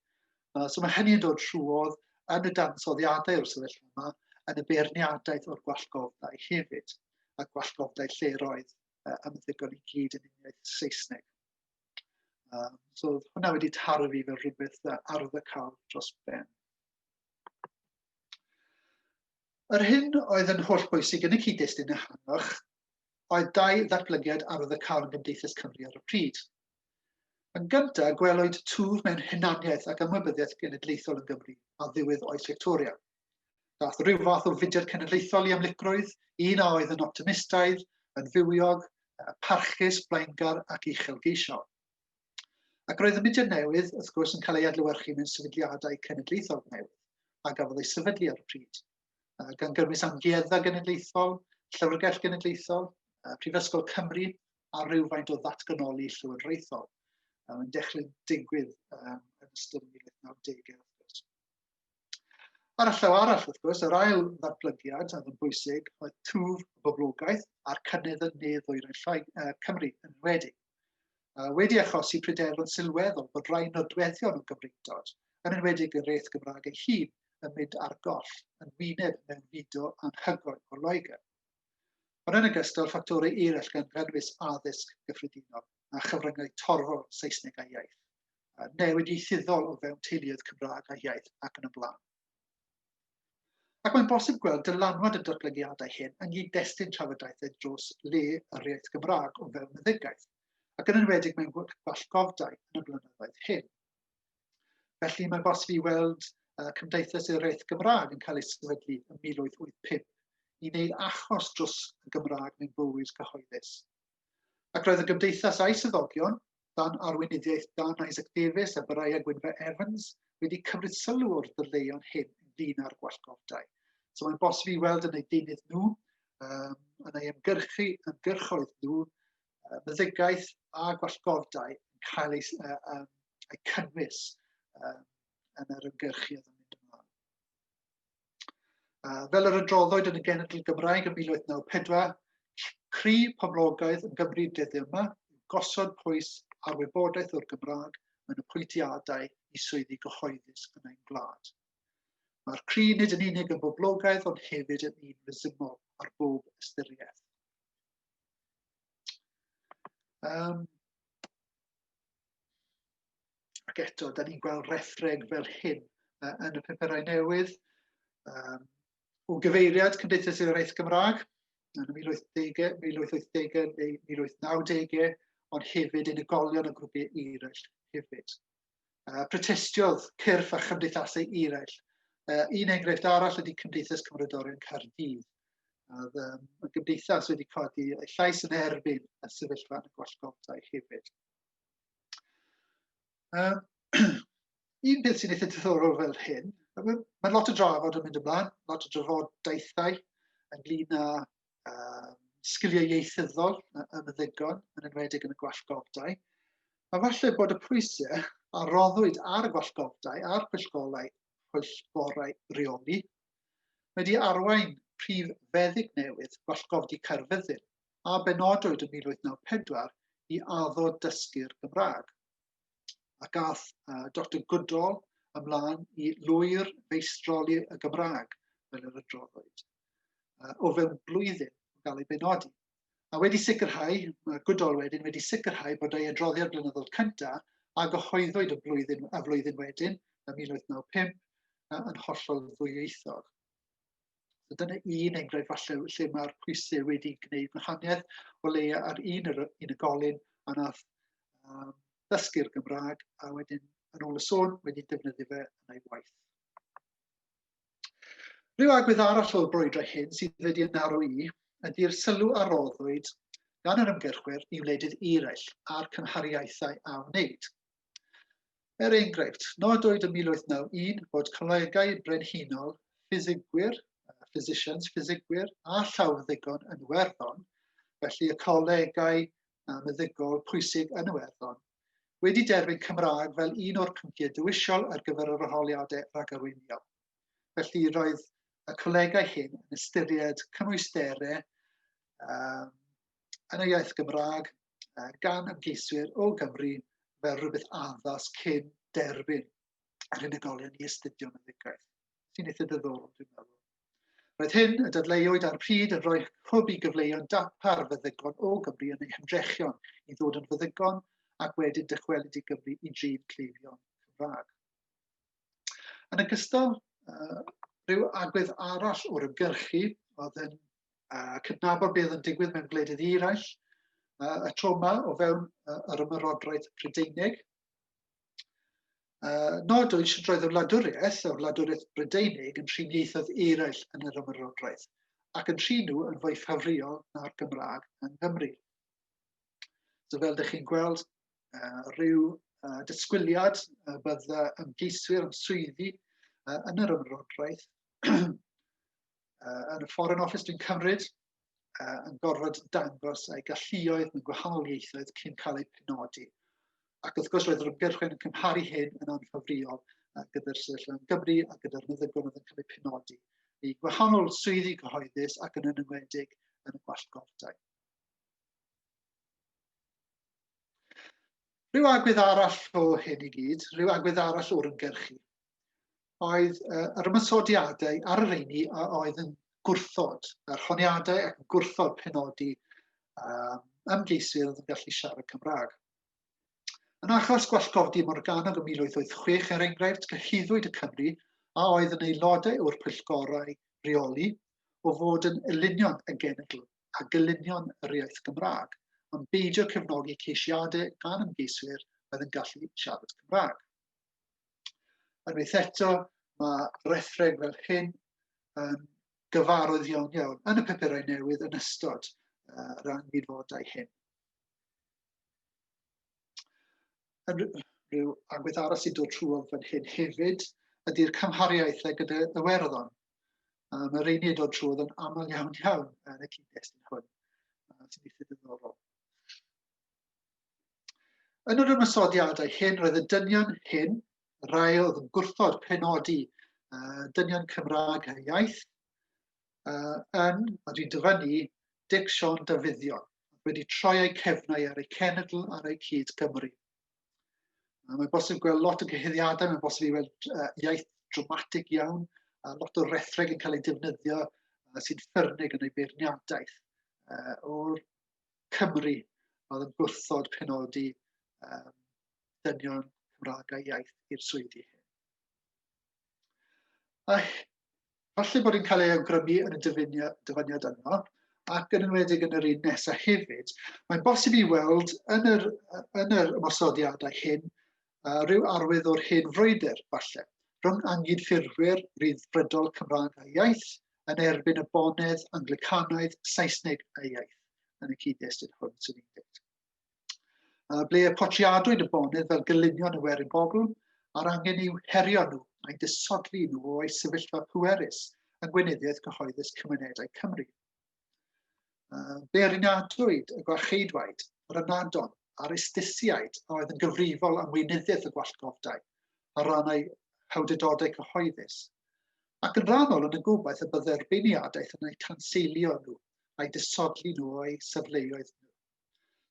Uh, so mae hynny'n dod trwodd yn y dansoddiadau o'r sefyllfa yma, yn y beirniadaeth o'r gwallgofdau hefyd, a gwallgofdau lleroedd uh, ymddigon i gyd yn uniaith Saesneg. Um, so hwnna wedi taru fi fel rhywbeth arddacol dros ben. Yr hyn oedd yn holl bwysig yn y cyd-destun ehangach oedd dau ddatblygiad arddacol yn Gymdeithas Cymru ar y pryd. Yn gyntaf, gwelwyd twf mewn hunaniaeth ac ymwybyddiaeth genedlaethol yn Gymru a ddiwedd oes Victoria. Dath rhyw fath o fudiad cenedlaethol i amlygrwydd, un a oedd yn optimistaidd, yn fywiog, parchus, blaengar ac uchelgeisiol. Ac roedd y mudiad newydd, wrth gwrs, yn cael ei adlywyrchu mewn sefydliadau cenedlaethol newydd, a gafodd ei sefydlu ar y pryd, gan gyrmys amgueddfa genedlaethol, llyfrgell genedlaethol, Prifysgol Cymru, a rhywfaint o ddatganoli llywodraethol. Mae'n dechrau digwydd yn ystod 1990au. Ar y llaw arall, wrth gwrs, yr ail ddatblygiad oedd yn bwysig oedd twf y boblogaeth a'r cynnydd yn ne ddwyrain llai, uh, Cymru yn wedi. Uh, wedi achosi pryderon sylweddol bod rai nodweddion o Gymreigdod, yn enwedig y reith Gymraeg ei hun, yn mynd ar goll yn wyneb mewn fudo anhygoel o Loegr. Ond yn ogystal, ffactorau eraill gan gynnwys addysg gyffredinol a chyfryngau torfol Saesneg a iaith, newid ieithyddol o fewn teuluoedd Cymraeg a iaith ac yn y blaen. Ac mae'n bosib gweld dylanwad y datblygiadau hyn yng nghyd-destun trafodaethau dros le yr iaith Gymraeg o fewn meddygaeth, ac yn enwedig mewn gwallgofdau yn y blynyddoedd hyn. Felly mae'n bosib i weld uh, Cymdeithas yr Iaith Gymraeg yn cael ei sefydlu yn 1885 i wneud achos dros y Gymraeg mewn bywyd cyhoeddus. Ac roedd y gymdeithas a'i syddogion, dan arweinyddiaeth Dan Isaac Davies a Byraya Gwynfa Evans wedi cymryd sylw o'r dyleuon hyn ynglyn â'r gwallgofdau. So mae'n bosib i weld yn eu deunydd nhw, um, yn ei ymgyrchu, ymgyrchoedd nhw, uh, meddygaeth a gwallgofdau yn cael ei, uh, um, ei cynnwys uh, yn yr ymgyrchu yn mynd ymlaen. Uh, fel yr adroddwyd yn y genedl Gymraeg yn 1894, cri poblogaeth yn Gymru dyddiau yma, gosod pwys ar wybodaeth o'r Gymraeg yn y pwyntiadau i swyddi gyhoeddus yn ein gwlad. Mae'r cri nid yn unig yn boblogaidd ond hefyd yn un resymol ar bob ystyriaeth. Um, ac eto, da ni'n gweld rethreg fel hyn uh, yn y pupurau newydd. Um, o gyfeiriad Cymdeithas yr Iaith Gymraeg yn y 1880, 1880 neu 1890, ond hefyd unigolion y grwpiau eraill hefyd. Uh, protestiodd cyrff a chymdeithasau eraill. Uh, un enghraifft arall ydy Cymdeithas Cymrodorion Caerdydd. Oedd um, y gymdeithas wedi codi ei llais yn erbyn y sefyllfa yn y gwallgofdau hefyd. Uh, un peth sy'n eitha diddorol fel hyn, mae lot o drafod yn mynd ymlaen, lot o drafodaethau ynglyn â uh, sgiliau ieithyddol yn y ddigon, yn enwedig yn y gwallgofdau. A falle bod y pwysau a roddwyd ar y gwallgofdau a'r pwyllgorau, pwyllgorau reoli wedi arwain prif feddyg newydd gwallgofdi Caerfyddin a benodwyd yn 1894 i addo dysgu'r Gymraeg. A gath uh, Dr Goodall ymlaen i lwyr feistroli y Gymraeg, fel yr adroddwyd, uh, o fewn blwyddyn o gael ei benodi. A wedi sicrhau, mae Goodall wedyn wedi sicrhau bod ei adroddiad blynyddol cyntaf a gyhoeddwyd y blwyddyn, y flwyddyn wedyn, y 1995, yn hollol ddwyieithog. So dyna un enghraifft falle lle mae'r pwysau wedi gwneud gwahaniaeth o leia ar un yr unigolyn a nath um, ddysgu'r Gymraeg a wedyn yn ôl y sôn wedi defnyddio fe yn ei waith. Rhyw agwedd arall o'r brwydrau hyn sydd wedi yn arw i ydy'r sylw a roddwyd gan yr ymgyrchwyr i wledydd eraill a'r cymhariaethau a wneud. Er enghraifft, nodwyd yn 1891 bod colegau brenhinol ffisigwyr, physicians, ffisigwyr a llawfeddygon yn Iwerddon, felly y colegau meddygol pwysig yn Iwerddon, wedi derbyn Cymraeg fel un o'r pynciau dewisol ar gyfer yr arholiadau rhagarweiniol. Felly roedd y colegau hyn yn ystyried cymwysterau um, yn y iaith Gymraeg gan ymgeiswyr o Gymru fel rhywbeth addas cyn derbyn yr unigolion i astudio meddygaeth, sy'n eitha dyddol, dwi'n meddwl. Roedd hyn y dadleuwyd ar pryd yn rhoi hwb i gyfleuon darpar feddygon o Gymru yn eu hymdrechion i ddod yn feddygon ac wedyn dychwelyd i Gymru i drin cleifion Cymraeg. Yn ogystal, rhyw agwedd arall o'r ymgyrchu oedd yn a cydnabod beth yn digwydd mewn gwledydd eraill, uh, y tro yma o fewn uh, yr ymyrodraeth Prydeinig. Uh, nod oedd sy'n roedd y wladwriaeth, y wladwriaeth Brydeinig, yn trin ieithoedd eraill yn yr ymyrodraeth, ac yn trin nhw yn fwy ffafriol na'r Gymraeg yng Nghymru. So fel ydych chi'n gweld, uh, rhyw uh, disgwyliad uh, bydda ymgeiswyr am swyddi uh, yn yr ymrodraeth uh, yn y Foreign Office dwi'n cymryd, uh, yn gorfod dangos eu galluoedd mewn gwahanol ieithoedd cyn cael eu penodi. Ac wrth gwrs roedd yr ymgyrchwyr yn cymharu hyn yn anffafriol uh, gyda'r sefyllfa yn Gymru a gyda'r meddygon oedd yn cael eu penodi i gwahanol swyddi cyhoeddus ac yn enwedig yn y gwallgordau. Rhyw agwedd arall o hyn i gyd, rhyw agwedd arall o'r ymgyrchu. oedd uh, yr ymwysodiadau ar yr eini a oedd yn gwrthod, yr honiadau ac yn gwrthod penodi um, ymgeisydd yn gallu siarad Cymraeg. Yn achos gwallgofdi Morganog ym 1886, er enghraifft, cyhuddwyd y Cymru a oedd yn aelodau o'r pwyllgorau rheoli o fod yn elunion y genedl a gylunion yr iaith Gymraeg, ond beidio cefnogi ceisiadau gan ymgeiswyr oedd yn gallu siarad Cymraeg. Unwaith eto, mae rethreg fel hyn yn gyfarwydd iawn iawn yn y pepurau newydd yn ystod uh, rhan gydfodau hyn. Yn rhyw agwedd arall sy'n dod trwodd fan hyn hefyd ydy'r cymhariaeth ag gyda Iwerddon. Um, Mae'r rheini yn dod trwodd yn aml iawn iawn yn y cyd-destun hwn. Uh, sy'n eitha diddorol. Yn yr ymysodiadau hyn, roedd y dynion hyn, y rhai oedd yn gwrthod penodi uh, dynion Cymraeg a iaith, uh, yn, a dwi'n dyfynnu, Dic Sion Dafyddion, wedi troi eu cefnau ar eu cenedl ar eu cyd Gymru. Uh, mae bosib gweld lot o gyhyddiadau, mae bosib i weld uh, iaith dramatig iawn, a lot o rethreg yn cael ei defnyddio uh, sy'n ffyrnig yn ei beirniadaeth. Uh, o'r Cymru oedd yn gwrthod penodi um, dynion Cymraeg a iaith i'r swyddi hyn. A falle bod yn cael ei awgrymu yn y dyfyniad yno, ac yn enwedig yn yr un nesaf hefyd, mae'n bosib i weld yn yr, yn yr ymosodiadau hyn uh, rhyw arwydd o'r hen frwydr, falle, rhwng anghydffurfwyr ryddfrydol Cymraeg a iaith yn erbyn y bonedd Anglicanaidd Saesneg a iaith yn y cyd-destun hwn sy'n ei dweud. Uh, ble y potriadwyd y bonedd fel gylunion y werin bobl a'r angen i'w herio nhw a'i disodli nhw o'i sefyllfa pwerus yng Gweinyddiaeth Cyhoeddus Cymunedau Cymru. Beirniadwyd y gwarcheidwaid, yr ynadon a'r istisiaid a oedd yn gyfrifol am weinyddiaeth y gwallgofdai ar ran ei hawdurdodau cyhoeddus, ac yn rhannol yn y gobaith y byddai'r beirniadaeth yn eu tanseilio nhw a'i disodli nhw o'u safleoedd nhw.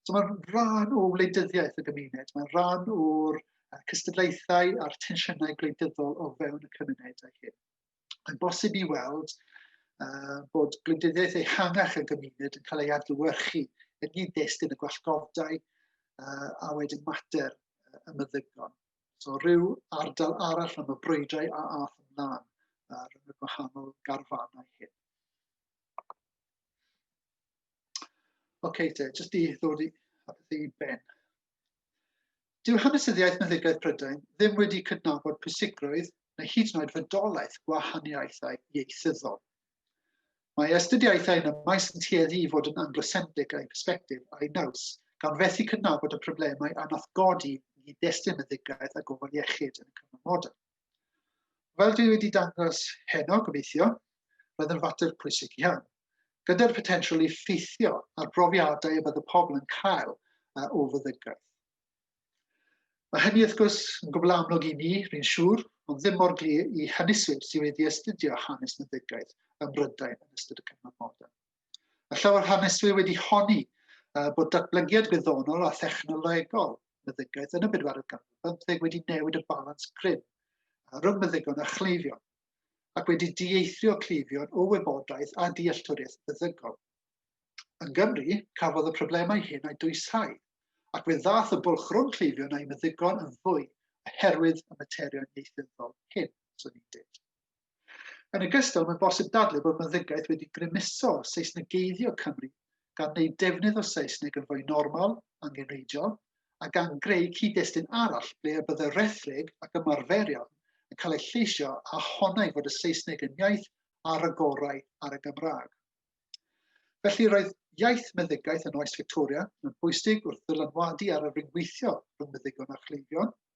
So mae'n rhan o wleidyddiaeth y gymuned, mae'n rhan o'r cystadlaethau a'r tensiynau gwleidyddol o fewn y cymunedau hyn. Mae'n bosib i weld uh, bod gwleidyddiaeth ehangach y gymuned yn cael ei adlywyrchu yn un destun y gwallgofdau uh, a wedyn mater y meddygon. So rhyw ardal arall am y brwydrau a ath ymlaen uh, rhwng y gwahanol garfanau hyn. OK, te, jyst i ddod i, i ben. Dyw hanesyddiaeth meddygaeth Prydain ddim wedi cydnabod pwysigrwydd neu hyd yn oed fodolaeth gwahaniaethau ieithyddol. Mae astudiaethau yn y maes yn tueddu i fod yn anglosendig a'i persbectif a'i naws, gan fethu cydnabod y problemau a nath godi i destun y ddigaeth a gofal iechyd yn y cyfnod modern. Fel dwi wedi dangos heno, gobeithio, roedd yn fater pwysig iawn, gyda'r potensial i ffeithio ar brofiadau y bydd y pobl yn cael o fyddygaeth. Mae hynny wrth gwrs yn gwbl amlwg i mi, rwy'n siŵr, ond ddim mor glir i hynyswyr sydd wedi astudio hanes meddygaeth ym Mhrydain yn ystod y cyfnod modern. A llawer haneswyr wedi honni uh, bod datblygiad gwyddonol a thechnolegol meddygaeth yn y bedwaredd ganrif bymtheg wedi newid y balans grym rhwng meddygon a chleifion, ac wedi dieithrio cleifion o wybodaeth a dealltwriaeth feddygol. Yn Gymru, cafodd y problemau hyn a'i dwysau, ac fe ddath y bwlch rhwng cleifion a'i meddygon yn fwy oherwydd y materion ieithyddol hyn, swn i'n dweud. Yn ogystal, mae'n bosib dadlau bod meddygaeth wedi grymuso Seisnegeiddio Cymru gan wneud defnydd o Saesneg yn fwy normal, angenrheidiol, a gan greu cyd-destun arall ble y byddai rhethreg ac ymarferion yn cael eu lleisio a honnai fod y Saesneg yn iaith ar y gorau ar y Gymraeg. Felly roedd iaith meddygaeth yn oes Victoria yn bwysig wrth ddylanwadu ar y ryngweithio rhwng meddygon a chleifion,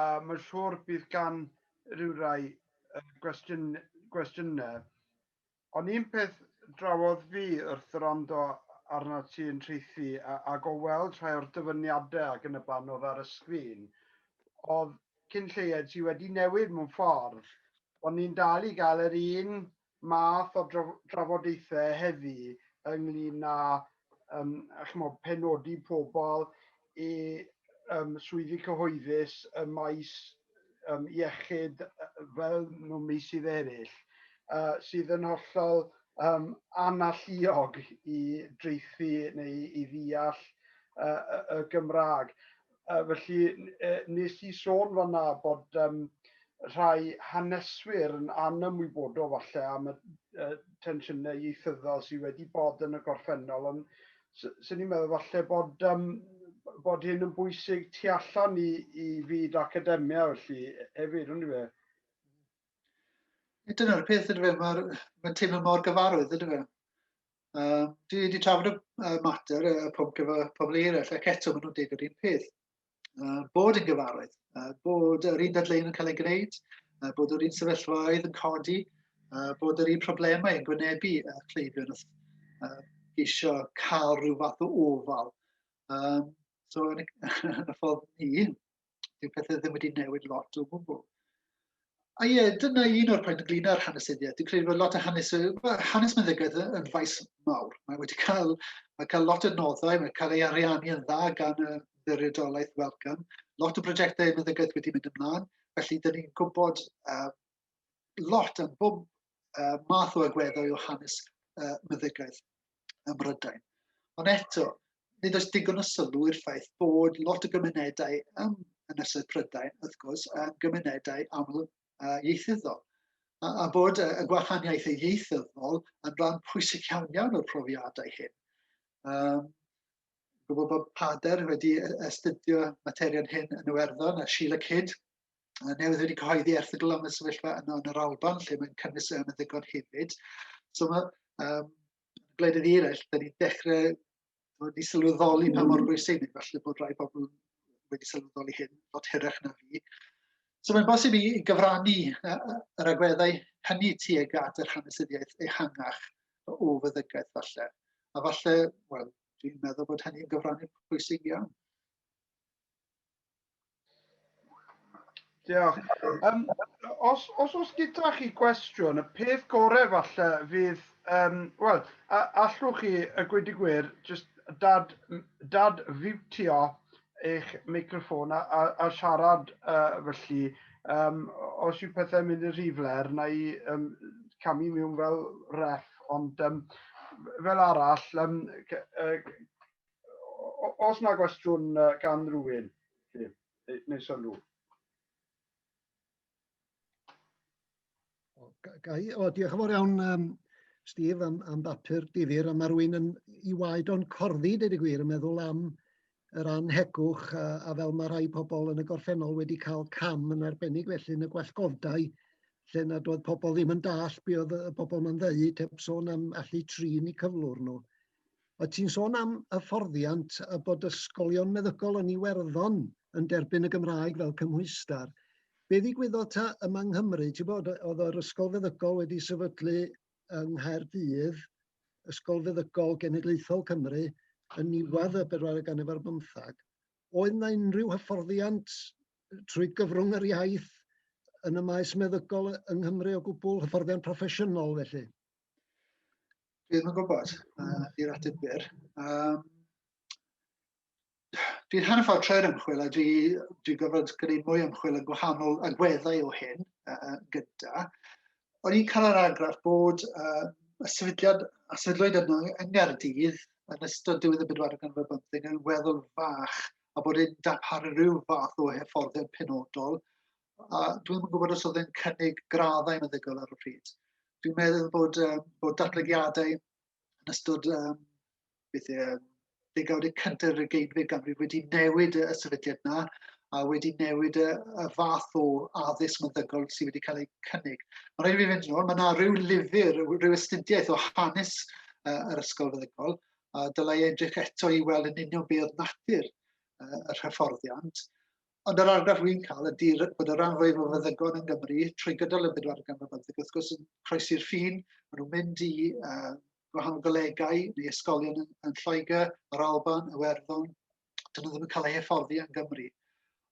A mae'n siŵr bydd gan rywrai gwestiynau, ond un peth drawodd fi wrth wrando arnat ti yn Tracy ac o weld rhai o'r dyfyniadau ac yn y blaen oedd ar y sgrin, oedd cyn lleied ti wedi newid mewn ffordd, ond ni'n dal i gael yr un math o drafodaethau heddi ynglyn â um, chymod, penodi pobl i um, swyddi cyhoeddus y maes um, iechyd fel mewn meysydd eraill, uh, sydd yn hollol um, analluog i dreithi neu i ddeall uh, y Gymraeg. Yy felly yy wnes i sôn fan'na bod yym rhai haneswyr yn anymwybodol falle am y yy tensiynau ieithyddol sydd wedi bod yn y gorffennol, ond s- 'swn i'n meddwl falle bod yym bod hyn yn bwysig tu allan i i fyd academia felly e- hefyd on'd yw e? Dyna'r peth yndyfe, ma'r ma'n teimlo mor gyfarwydd yndyfe? Uh, dwi wedi trafod y uh, mater, y pwnc efo pobl eraill, ac eto maen nhw'n dweud yr un peth. Uh, bod yn gyfarwydd, uh, bod yr un dadleun yn cael ei gwneud, uh, bod yr un sefyllfaoedd yn codi, uh, bod yr un problemau yn gwynebu uh, cleifion wrth uh, eisiau cael rhyw fath o ofal. Um, so, yn y, ffordd ni, Dyw pethau ddim wedi newid lot o gwbl. A ie, dyna un o'r pwynt ynglyn â'r hanesyddiaeth. Dwi'n credu bod lot o hanes, hanes meddygaeth yn faes mawr. Mae wedi cael, mae cael lot o noddau, mae cael ei ariannu yn dda gan y ddirydolaeth welcome. Lot o brosiectau meddygaeth wedi mynd ymlaen, felly dyn ni'n gwybod uh, lot yn bob uh, math o agweddau o hanes uh, meddygaeth ym Mhrydain. Ond eto, nid oes digon o sylw i'r ffaith bod lot o gymunedau ym Ynysoedd Prydain, wrth gwrs, yn gymunedau aml uh, ieithyddol, a, a bod y gwahaniaeth ei ieithyddol yn rhan pwysig iawn iawn o'r profiadau hyn. Um, gwybod bod Pader wedi astudio materion hyn yn Iwerddon a Sheila Kidd newydd wedi cyhoeddi erthygl am y sefyllfa yno yn yr Alban, lle mae'n cynnwys yn y ddigon hefyd. So mae um, gwledydd eraill, da ni'n dechrau wedi sylweddoli pa mor bwysig, neu falle bod rhai pobl wedi sylweddoli hyn, fod hyrach na fi. So mae'n bosib i gyfrannu yr agweddau hynny tuag at yr hanesyddiaeth ehangach o fyddygaeth falle. A falle, wel, dwi'n meddwl bod hynny'n gyfrannu pwysig iawn. Diolch. Um, os, os oes gyda chi gwestiwn, y peth gorau falle fydd, um, wel, allwch chi, y gweud i gwir, just dad, dad fiwtio eich microfon a, a, a siarad uh, felly, um, os yw pethau'n mynd yn rhy fler, na i um, camu mewn fel ref, ond um, fel arall, um, Os na gwestiwn gan rywun, neu sylw. Gai, o, diolch yn fawr iawn, um, Steve, am, am bapur difyr, a mae rwy'n yn i waed o'n corddi, dweud y gwir, yn meddwl am yr anhegwch a, a fel mae rhai pobl yn y gorffennol wedi cael cam yn arbennig felly yn y gwellgodau lle nad oedd pobl ddim yn dall be oedd y pobl ma'n ddeu, teb sôn am allu trin i cyflwr nhw. O't ti'n sôn am hyfforddiant a bod ysgolion meddygol yn Iwerddon yn derbyn y Gymraeg fel cymhwyster. Be ddigwyddodd ta yma yng Nghymru? Ti'n bod, oedd yr ysgol feddygol wedi sefydlu yng Nghaerdydd, Ysgol Feddygol Genedlaethol Cymru, yn niwedd y bedwaredd ganrif ar bymthag. Oedd yna unrhyw hyfforddiant trwy gyfrwng yr iaith yn y maes meddygol yng Nghymru o gwbl, hyfforddiant proffesiynol felly? Dwi ddim yn gwybod, uh, i'r ateb byr. Um, dwi'n hanner ffordd trwy'r ymchwil a dwi, dwi gofod gwneud mwy ymchwil yn gwahanol agweddau o hyn uh, gyda. O'n i'n cael yr argraff bod uh, y sefydliad a sefydlwyd yno yng Nghaerdydd yn ystod diwedd y bedwar gan fod bymthig yn weddol fach a bod yn darparu rhyw fath o hyfforddiant penodol a dwi'n yn gwybod os oedd yn cynnig graddau meddygol ar y pryd. Dwi'n meddwl bod, um, bod datblygiadau yn ystod um, beth e, degawdau cyntaf yr ugeinfed ganrif wedi newid y sefydliad yna a wedi newid y, y fath o addysg meddygol sydd wedi cael ei cynnig. Mae rhaid i fi fynd yn ôl, mae yna rhyw lyfr, rhyw astudiaeth o hanes uh, yr ysgol feddygol, a dylai edrych eto i weld yn union be oedd natur uh, yr hyfforddiant. Ond yr argraff wy'n cael ydy bod y rhan fwyaf o feddygon yng Nghymru, trwy gydol y bedwar ganrif bymtheg, wrth gwrs yn croesi'r ffin, maen nhw'n mynd i uh, gwahanol golegau neu ysgolion yn, yn Lloegr, yr Alban, Iwerddon, dyn nhw ddim yn cael eu hyfforddi yng Nghymru.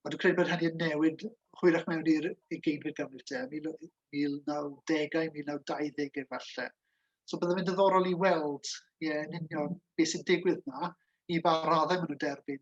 Ond dwi'n credu bod hynny yn newid hwyrach mewn i'r ugeinfed ganrif te, 1910au, 1920au efallai. So byddai'n mynd ddiddorol i weld ie, yn union beth sy'n digwydd yna, i ba raddau maen nhw'n derbyn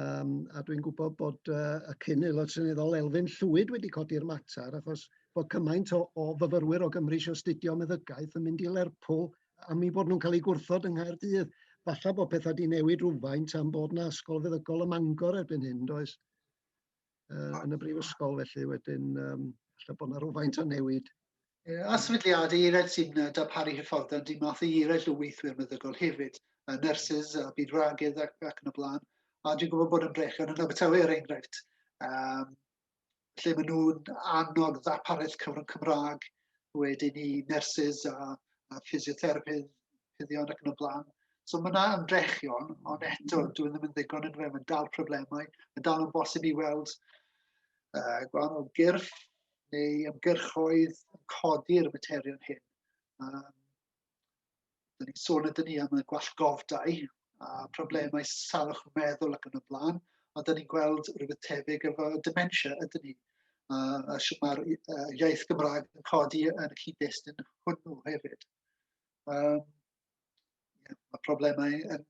Um, a dwi'n gwybod bod uh, y cyn aelod seneddol Elfyn Llwyd wedi codi'r mater, achos bod cymaint o, o fyfyrwyr o Gymru eisiau astudio meddygaeth yn mynd i Lerpwl am ei bod nhw'n cael eu gwrthod yng Nghaerdydd. Falle bod pethau wedi newid rhywfaint am bod yna ysgol feddygol ym Mangor erbyn hyn, does? uh, yn y brifysgol, felly wedyn, um, felly bod yna rhywfaint o newid A sefydliadau eraill sy'n darparu hyfforddiant dim math i eraill o weithwyr meddygol hefyd, a nyrsys a byd ragydd ac, ac yn y blaen. A dwi'n gwybod bod yn brech yn Abertawe er enghraifft, um, lle maen nhw'n annog ddapareth cyfrwng Cymraeg wedyn i nyrsys a, a physiotherapyddion ac yn y blaen. So mae yna ymdrechion, ond eto, dwi ddim yn ddigon yn fe, mae'n dal problemau, mae'n dal yn bosib i weld uh, gwahanol gyrff neu ymgyrchoedd yn codi'r materion hyn. Um, Dyn ni'n sôn ydyn ni am y gwallgofdau a problemau salwch meddwl ac yn y blaen, a dyn ni'n gweld rhywbeth tebyg efo dementia ydyn ni. A, a sy'n mae'r uh, iaith Gymraeg yn codi yn y cyd-destun hwnnw hefyd. Um, yeah, mae problemau yn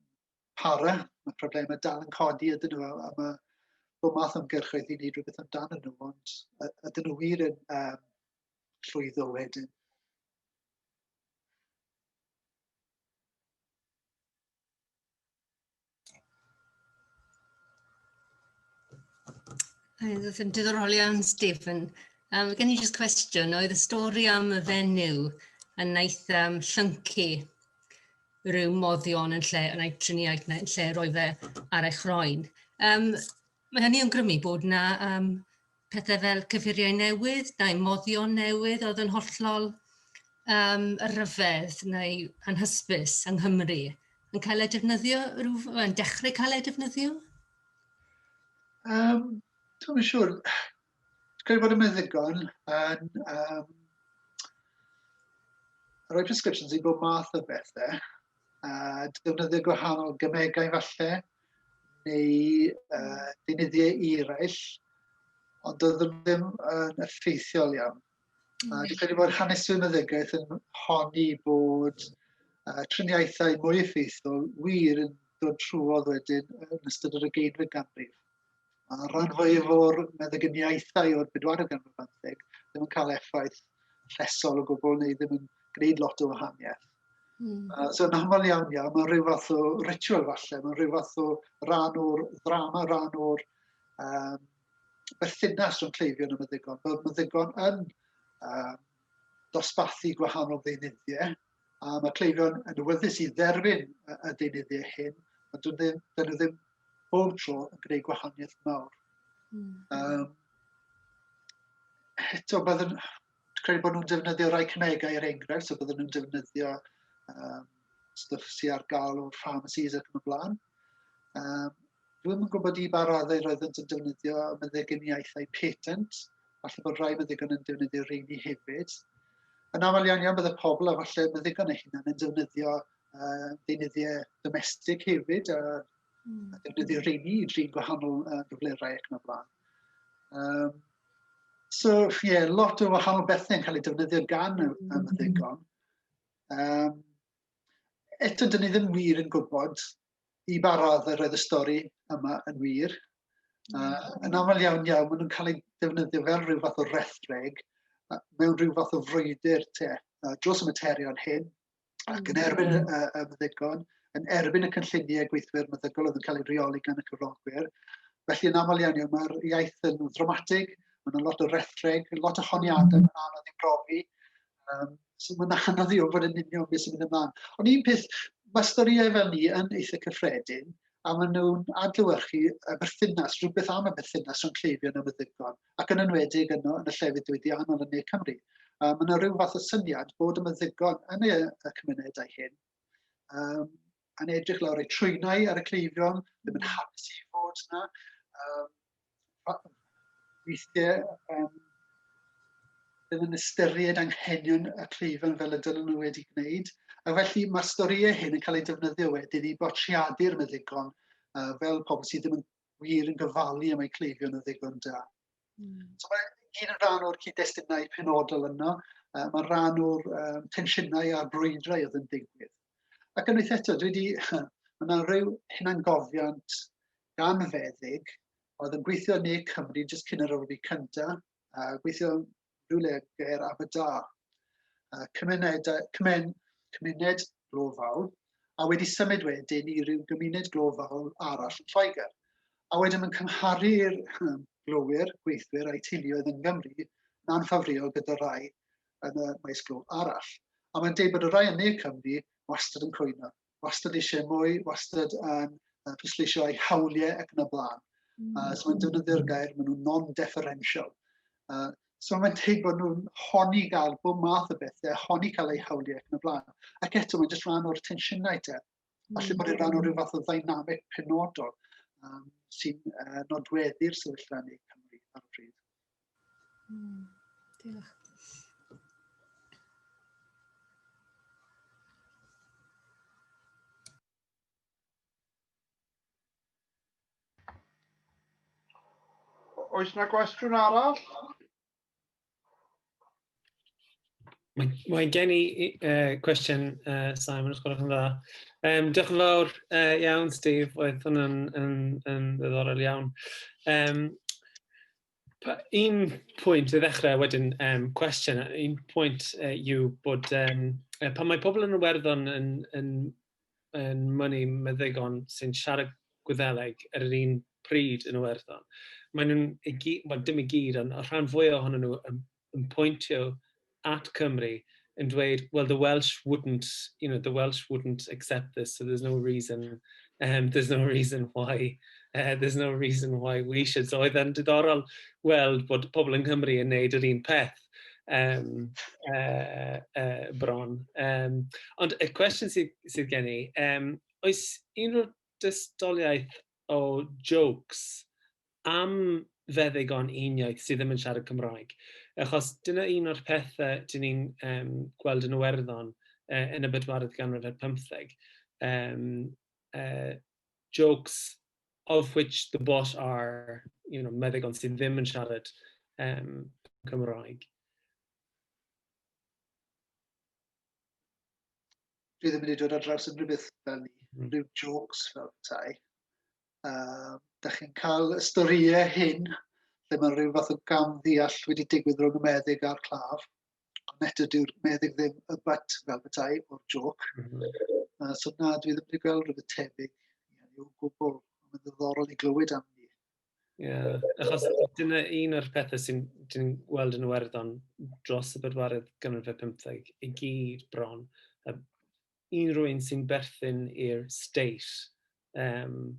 para, mae problemau dal yn codi ydyn nhw, a, a mae bod math o'n gyrchoedd i wneud rhywbeth amdano nhw, ond ydyn nhw wir yn um, llwyddo wedyn. Oedd yn diddorol iawn, Stephen. Um, gen i jyst cwestiwn, oedd y stori am y fenyw yn wnaeth um, llyncu rhyw moddion yn lle, yn ei triniaeth neu yn lle roi fe ar ei chroen. Um, mae hynny yn grymu bod na um, pethau fel cyffuriau newydd, daemoddion newydd oedd yn hollol yym ryfedd neu anhysbys yng Nghymru, yn cael eu defnyddio rhyw... yn dechrau cael eu defnyddio? Um, Dwi'n yn siŵr. Dwi'n bod yn meddygon yn um, rhoi prescriptions i bob math o bethau a defnyddio gwahanol gymegau falle. neu uh, deunyddiau eraill, ond doeddwn ddim yn effeithiol iawn. Mm. Uh, dwi'n credu bod hanesu meddygaeth yn honni bod uh, triniaethau mwy effeithiol wir yn dod trwodd wedyn yn ystod yr ugeinfed ganrif. Mae'r rhan fwyaf o'r meddyginiaethau o'r bedwaredd ganrif bymtheg ddim yn cael effaith llesol o gwbl neu ddim yn gwneud lot o wahaniaeth. Mm. Uh, so yn aml iawn iawn, mae'n rhyw fath o ritual falle, mae'n rhyw fath o ran o'r ddrama, ran o'r um, berthynas rhwng cleifion a meddygon. Mae meddygon yn um, dosbarthu gwahanol ddeunyddiau, a mae cleifion yn awyddus i dderfyn y deunyddiau hyn, ond dyn nhw ddim bob tro yn gwneud gwahaniaeth mawr. Mm. Um, eto, byddwn, credu bod nhw'n defnyddio rhai cymegau er enghraifft, so byddwn nhw'n defnyddio um, stwff sydd ar gael o'r pharmacies ac yn y blaen. Um, Rwy'n gwybod i ba raddau roeddent yn defnyddio meddyginiaethau patent, falle bod rhai meddygon yn defnyddio rheini hefyd. Yn aml iawn iawn bydde pobl a falle meddygon eu hunain yn defnyddio uh, deunyddiau domestig hefyd a, mm. a defnyddio rheini i drin gwahanol uh, gyflerau ac yn y blaen. Um, so, ie, yeah, lot o wahanol bethau yn cael ei defnyddio gan y, y meddygon. Um, eto, dyn ni ddim wir yn gwybod i ba radd yr oedd y stori yma yn wir. Uh, yn aml iawn iawn, maen nhw'n cael ei defnyddio fel rhyw fath o rethreg uh, mewn rhyw fath o frwydr te, uh, dros y materion hyn, ac yn erbyn y, y, y meddygon, yn erbyn y cynlluniau gweithwyr meddygol oedd yn cael ei reoli gan y cyflogwyr. Felly yn aml iawn iawn, mae'r iaith yn ddramatig, mae'n lot o rethreg, lot o honiadau yn anodd i brofi, Um, so mae'n anodd i ofod yn union beth sy'n mynd ymlaen. Ond un peth, mae storïau fel ni yn eitha cyffredin, a maen nhw'n adlywyrchu y berthynas, rhywbeth am y berthynas rhwng cleifion a meddygon, ac yn enwedig yno yn y llefydd diwydiannol yn ne Cymru. Um, mae yna rhyw fath o syniad bod y meddygon yn y, y cymunedau hyn um, yn edrych lawr eu trwynau ar y cleifion, ddim yn hapus i fod yna. Um, weithiau, um, ddim yn ystyried anghenion y cleifion fel y dylen nhw wedi gwneud. A felly mae'r storïau hyn yn cael eu defnyddio wedyn i bortreadu'r meddygon uh, fel pobl sydd ddim yn wir yn gyfalu am eu cleifion o ddigon da. Mm. So mae gyd yn rhan o'r cyd-destunau penodol yno, uh, mae rhan o'r um, tensiynau a'r brwydrau oedd yn digwydd. Ac unwaith eto, dwi wedi... Mae yna rhyw hunangofiant gan feddyg oedd yn gweithio yn Ne Cymru jyst cyn yr Olympic cyntaf, a gweithio rhywle ger Aberdâr. Cymuned, cymun, cymuned glofaol, a wedi symud wedyn i ryw gymuned glofaol arall yn Lloegr. A wedyn mae'n cymharu'r glowyr, gweithwyr a'i teuluoedd yn Gymru, na'n ffafriol gyda rai yn y maes glo arall. A mae'n deud bod y rhai yn ne Cymru wastad yn cwyno, wastad eisiau mwy, wastad yn uh, pwysleisio eu hawliau ac yn y blaen. Mm. Uh, so mae'n defnyddio'r gair, maen nhw'n non-deferential. Uh, so mae'n deud bod nhw'n honi gael bob math o bethau, honi cael eu hawliau ac yn y blaen. Ac eto, mae'n just rhan o'r tensiynau te. Felly mm. bod e'n rhan o rhyw fath o ddynamic penodol um, sy'n uh, nodweddu'r sefyllfa ni Cymru ar y pryd. Mm. Diolch. Oes na gwestiwn arall? Mae, mae gen i uh, cwestiwn, uh, Simon, os gwelwch yn dda. Um, diolch yn fawr uh, iawn, Steve. Oedd hwnna'n yn, yn ddiddorol iawn. Um, un pwynt i ddechrau wedyn um, cwestiwn, un pwynt uh, yw bod um, pan mae pobl yn y werddon yn, yn yn mynnu meddygon sy'n siarad Gwyddeleg ar yr un pryd yn Iwerddon. Mae nhw'n, well, dim i gyd, ond y rhan fwy ohonyn nhw yn, yn pwyntio at Cymru yn dweud, well, the Welsh wouldn't, you know, the Welsh wouldn't accept this, so there's no reason, um, there's no reason why, uh, there's no reason why we should. So oedd e'n diddorol weld bod pobl yng Nghymru yn neud yr un peth. Gymraeg yym yy yy bron. Yym ond y cwestiwn sydd sydd gen i yym oes unrhyw dystiolaeth o jôcs am feddygon uniaith sydd ddim yn siarad Cymraeg? Achos dyna un o'r pethe dyn ni'n yym gweld yn Iwerddon yy yn y bedwaredd ganrif ar pymtheg yym yy jokes of which the boss are, you know, meddygon sydd ddim yn siarad um, Cymraeg. Dwi ddim wedi dod ar draws unrhyw beth fel ni, mm. rhyw jokes fel tai. Uh, da chi'n cael y storïau hyn, lle mae rhyw fath o gam ddeall wedi digwydd rhwng y meddyg a'r claf. ond eto dyw'r meddyg ddim y bat fel bethau o'r joc. Mm -hmm. uh, so na, dwi ddim wedi gweld rhywbeth tebyg i o gwbl. Mae'n ddiddorol i glywed am ni. Yeah. Achos dyna un o'r pethau sy'n dyn ni'n gweld yn Iwerddon dros y bedwaredd ganrif fe 15 i gyd bron. A un rwy'n sy'n berthyn i'r state um,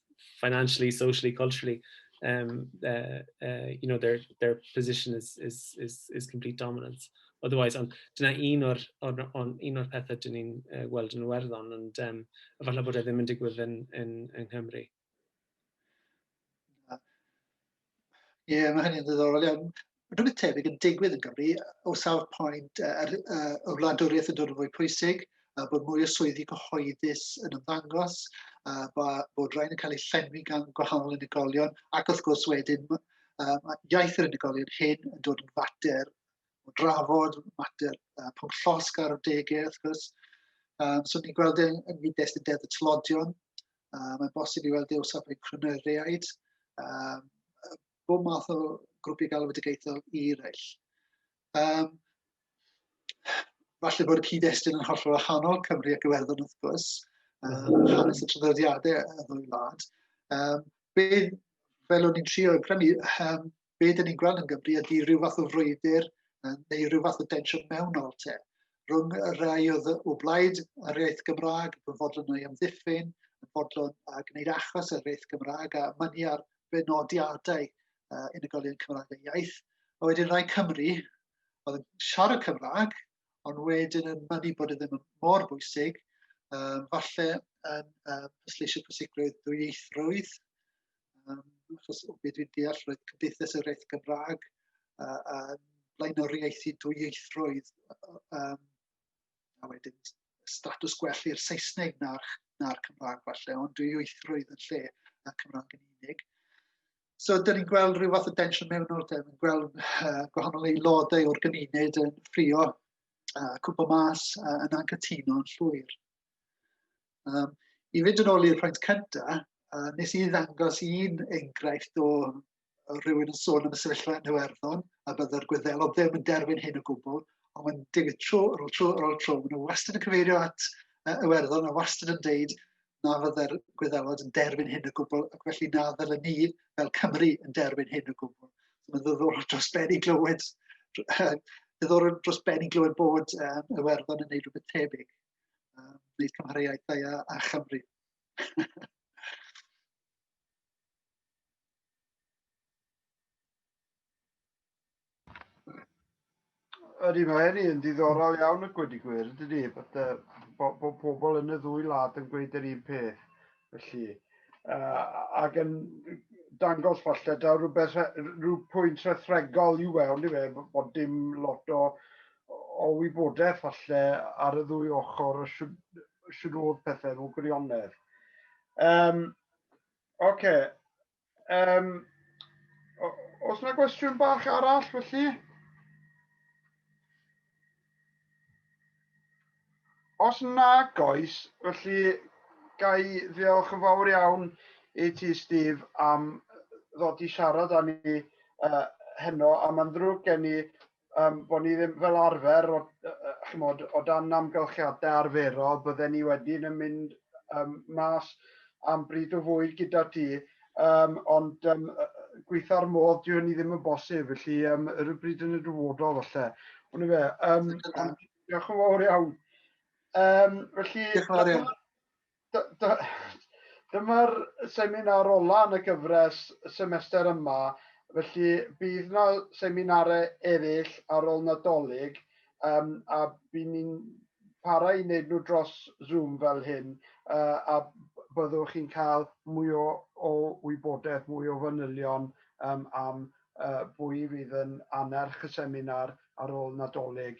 financially, socially, culturally, um, uh, uh, you know, their, their position is, is, is, is complete dominance. Otherwise, ond dyna un o'r, or, or, un o'r pethau dyn ni'n uh, weld yn werddon, ond um, efallai bod e ddim yn digwydd yn, yn, yn Nghymru. Ie, yeah, mae hynny'n ddiddorol iawn. Rhywbeth tebyg yn digwydd yn Gymru, o sawr pwynt, yr uh, y wladwriaeth yn dod yn fwy pwysig, a bod mwy o swyddi cyhoeddus yn ymddangos, a bod rhain yn cael eu llenwi gan gwahanol unigolion, ac wrth gwrs wedyn, uh, iaith yr unigolion hyn yn dod yn fater o drafod mater uh, pob llosg ar y degau, wrth gwrs. Um, so ni'n gweld yn, yn gyd-destun deddf y tlodion. Um, mae'n bosib i weld ei osaf ei cryneriaid. Um, bob math o grwpiau galwedigaethol i reill. Um, falle bod y cyd-destun yn hollol wahanol Cymru ac Iwerddon wrth gwrs, um, hanes y traddodiadau y ddwy wlad. Um, be, fel o'n i'n trio i brynu, um, be dyn ni'n gweld yn Gymru ydy rhyw fath o frwydr neu rhyw fath o densiwn mewnol te rhwng y rhai oedd o blaid yr iaith Gymraeg, yn fodlon o'i amddiffyn, yn fodlon a gwneud achos yr iaith Gymraeg a mynnu ar benodiadau uh, unigolion Cymraeg a iaith. A wedyn rai Cymru oedd yn siarad Cymraeg, ond wedyn yn mynnu bod e ddim yn mor bwysig, um, falle yn um, pwysleisio pwysigrwydd dwyieithrwydd, um, achos o beth dwi'n deall roedd Cymdeithas yr Eith Gymraeg uh, uh, blaenoriaethu dwyieithrwydd um, a wedyn status gwell i'r Saesneg na'r, na Cymraeg falle, ond dwyieithrwydd yn lle y Cymraeg yn unig. So, dyn ni'n gweld rhyw fath o densiwn mewn o'r dyn ni'n gweld uh, gwahanol aelodau o'r gymuned yn ffrio uh, cwbl mas uh, yn anghytuno yn llwyr. Um, I fynd yn ôl i'r pwynt cyntaf, uh, nes i ddangos un enghraifft o rhywun yn sôn am y sefyllfa yn Iwerddon, a byddai'r gwyddelod ddim yn derfyn hyn o gwbl, ond mae'n digwydd tro ar ôl tro ar ôl tro. Maen nhw wastad yn cyfeirio at uh, Iwerddon a wastad yn deud na fydde'r Gwyddelod yn derfyn hyn o gwbl, ac felly na ddylen ni fel Cymru yn derfyn hyn o gwbl. Mae'n ddiddorol dros ben i glywed, ddiddorol dros ben i glywed bod um, Iwerddon yn gwneud rhywbeth tebyg, um, wneud cymhariaethau a, a Chymru. Ydy, mae hynny yn ddiddorol iawn y gwedi gwir, ydy, bod, uh, bo, bo pobl yn y ddwy lad yn gweud yr un peth. Felly, uh, ac yn dangos falle da rhywbeth, rhyw pwynt rhethregol yw e, ond i fe, bod dim lot o, o wybodaeth falle ar y ddwy ochr o siwr oedd pethau mewn gwirionedd. Um, Oce, okay. Um, os yna gwestiwn bach arall felly? Os nag oes, felly ga i ddiolch yn fawr iawn i ti, Steve, am ddod i siarad â ni uh, heno, a mae'n ddrwg gen i um, bod ni ddim fel arfer, o, uh, chymod, o dan amgylchiadau arferol, bydden ni wedyn yn mynd um, mas am bryd o fwyd gyda ti, um, ond um, gweitha'r modd, dwi hynny ddim yn bosib, felly um, yr y bryd yn y dyfodol falle. Ond fe, um, diolch yn fawr iawn. Um, felly, diolch yn fawr iawn. D- d- Dyma'r seminar olaf yn y gyfres y semester yma, felly bydd yna seminarau eraill ar ôl Nadolig um, a bydd ni'n para i wneud nhw dros Zoom fel hyn uh, a byddwch chi'n cael mwy o, o wybodaeth, mwy o fanylion um, am uh, bwy fydd yn annerch y seminar ar ôl Nadolig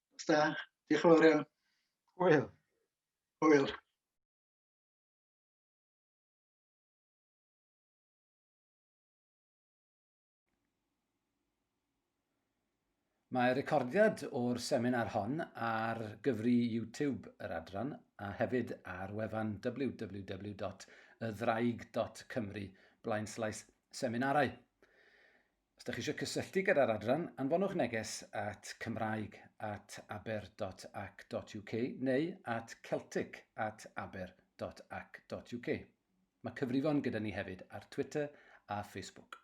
Os da, diolch yn fawr iawn. Hwyl. Hwyl. Mae recordiad o'r seminar hon ar gyfri YouTube yr adran a hefyd ar wefan www.ydddraig.cymru blaenslais seminarau. Os ydych chi eisiau cysylltu gyda'r adran, anfonwch neges at cymraeg at aber.ac.uk neu at celtic at aber.ac.uk. Mae cyfrifon gyda ni hefyd ar Twitter a Facebook.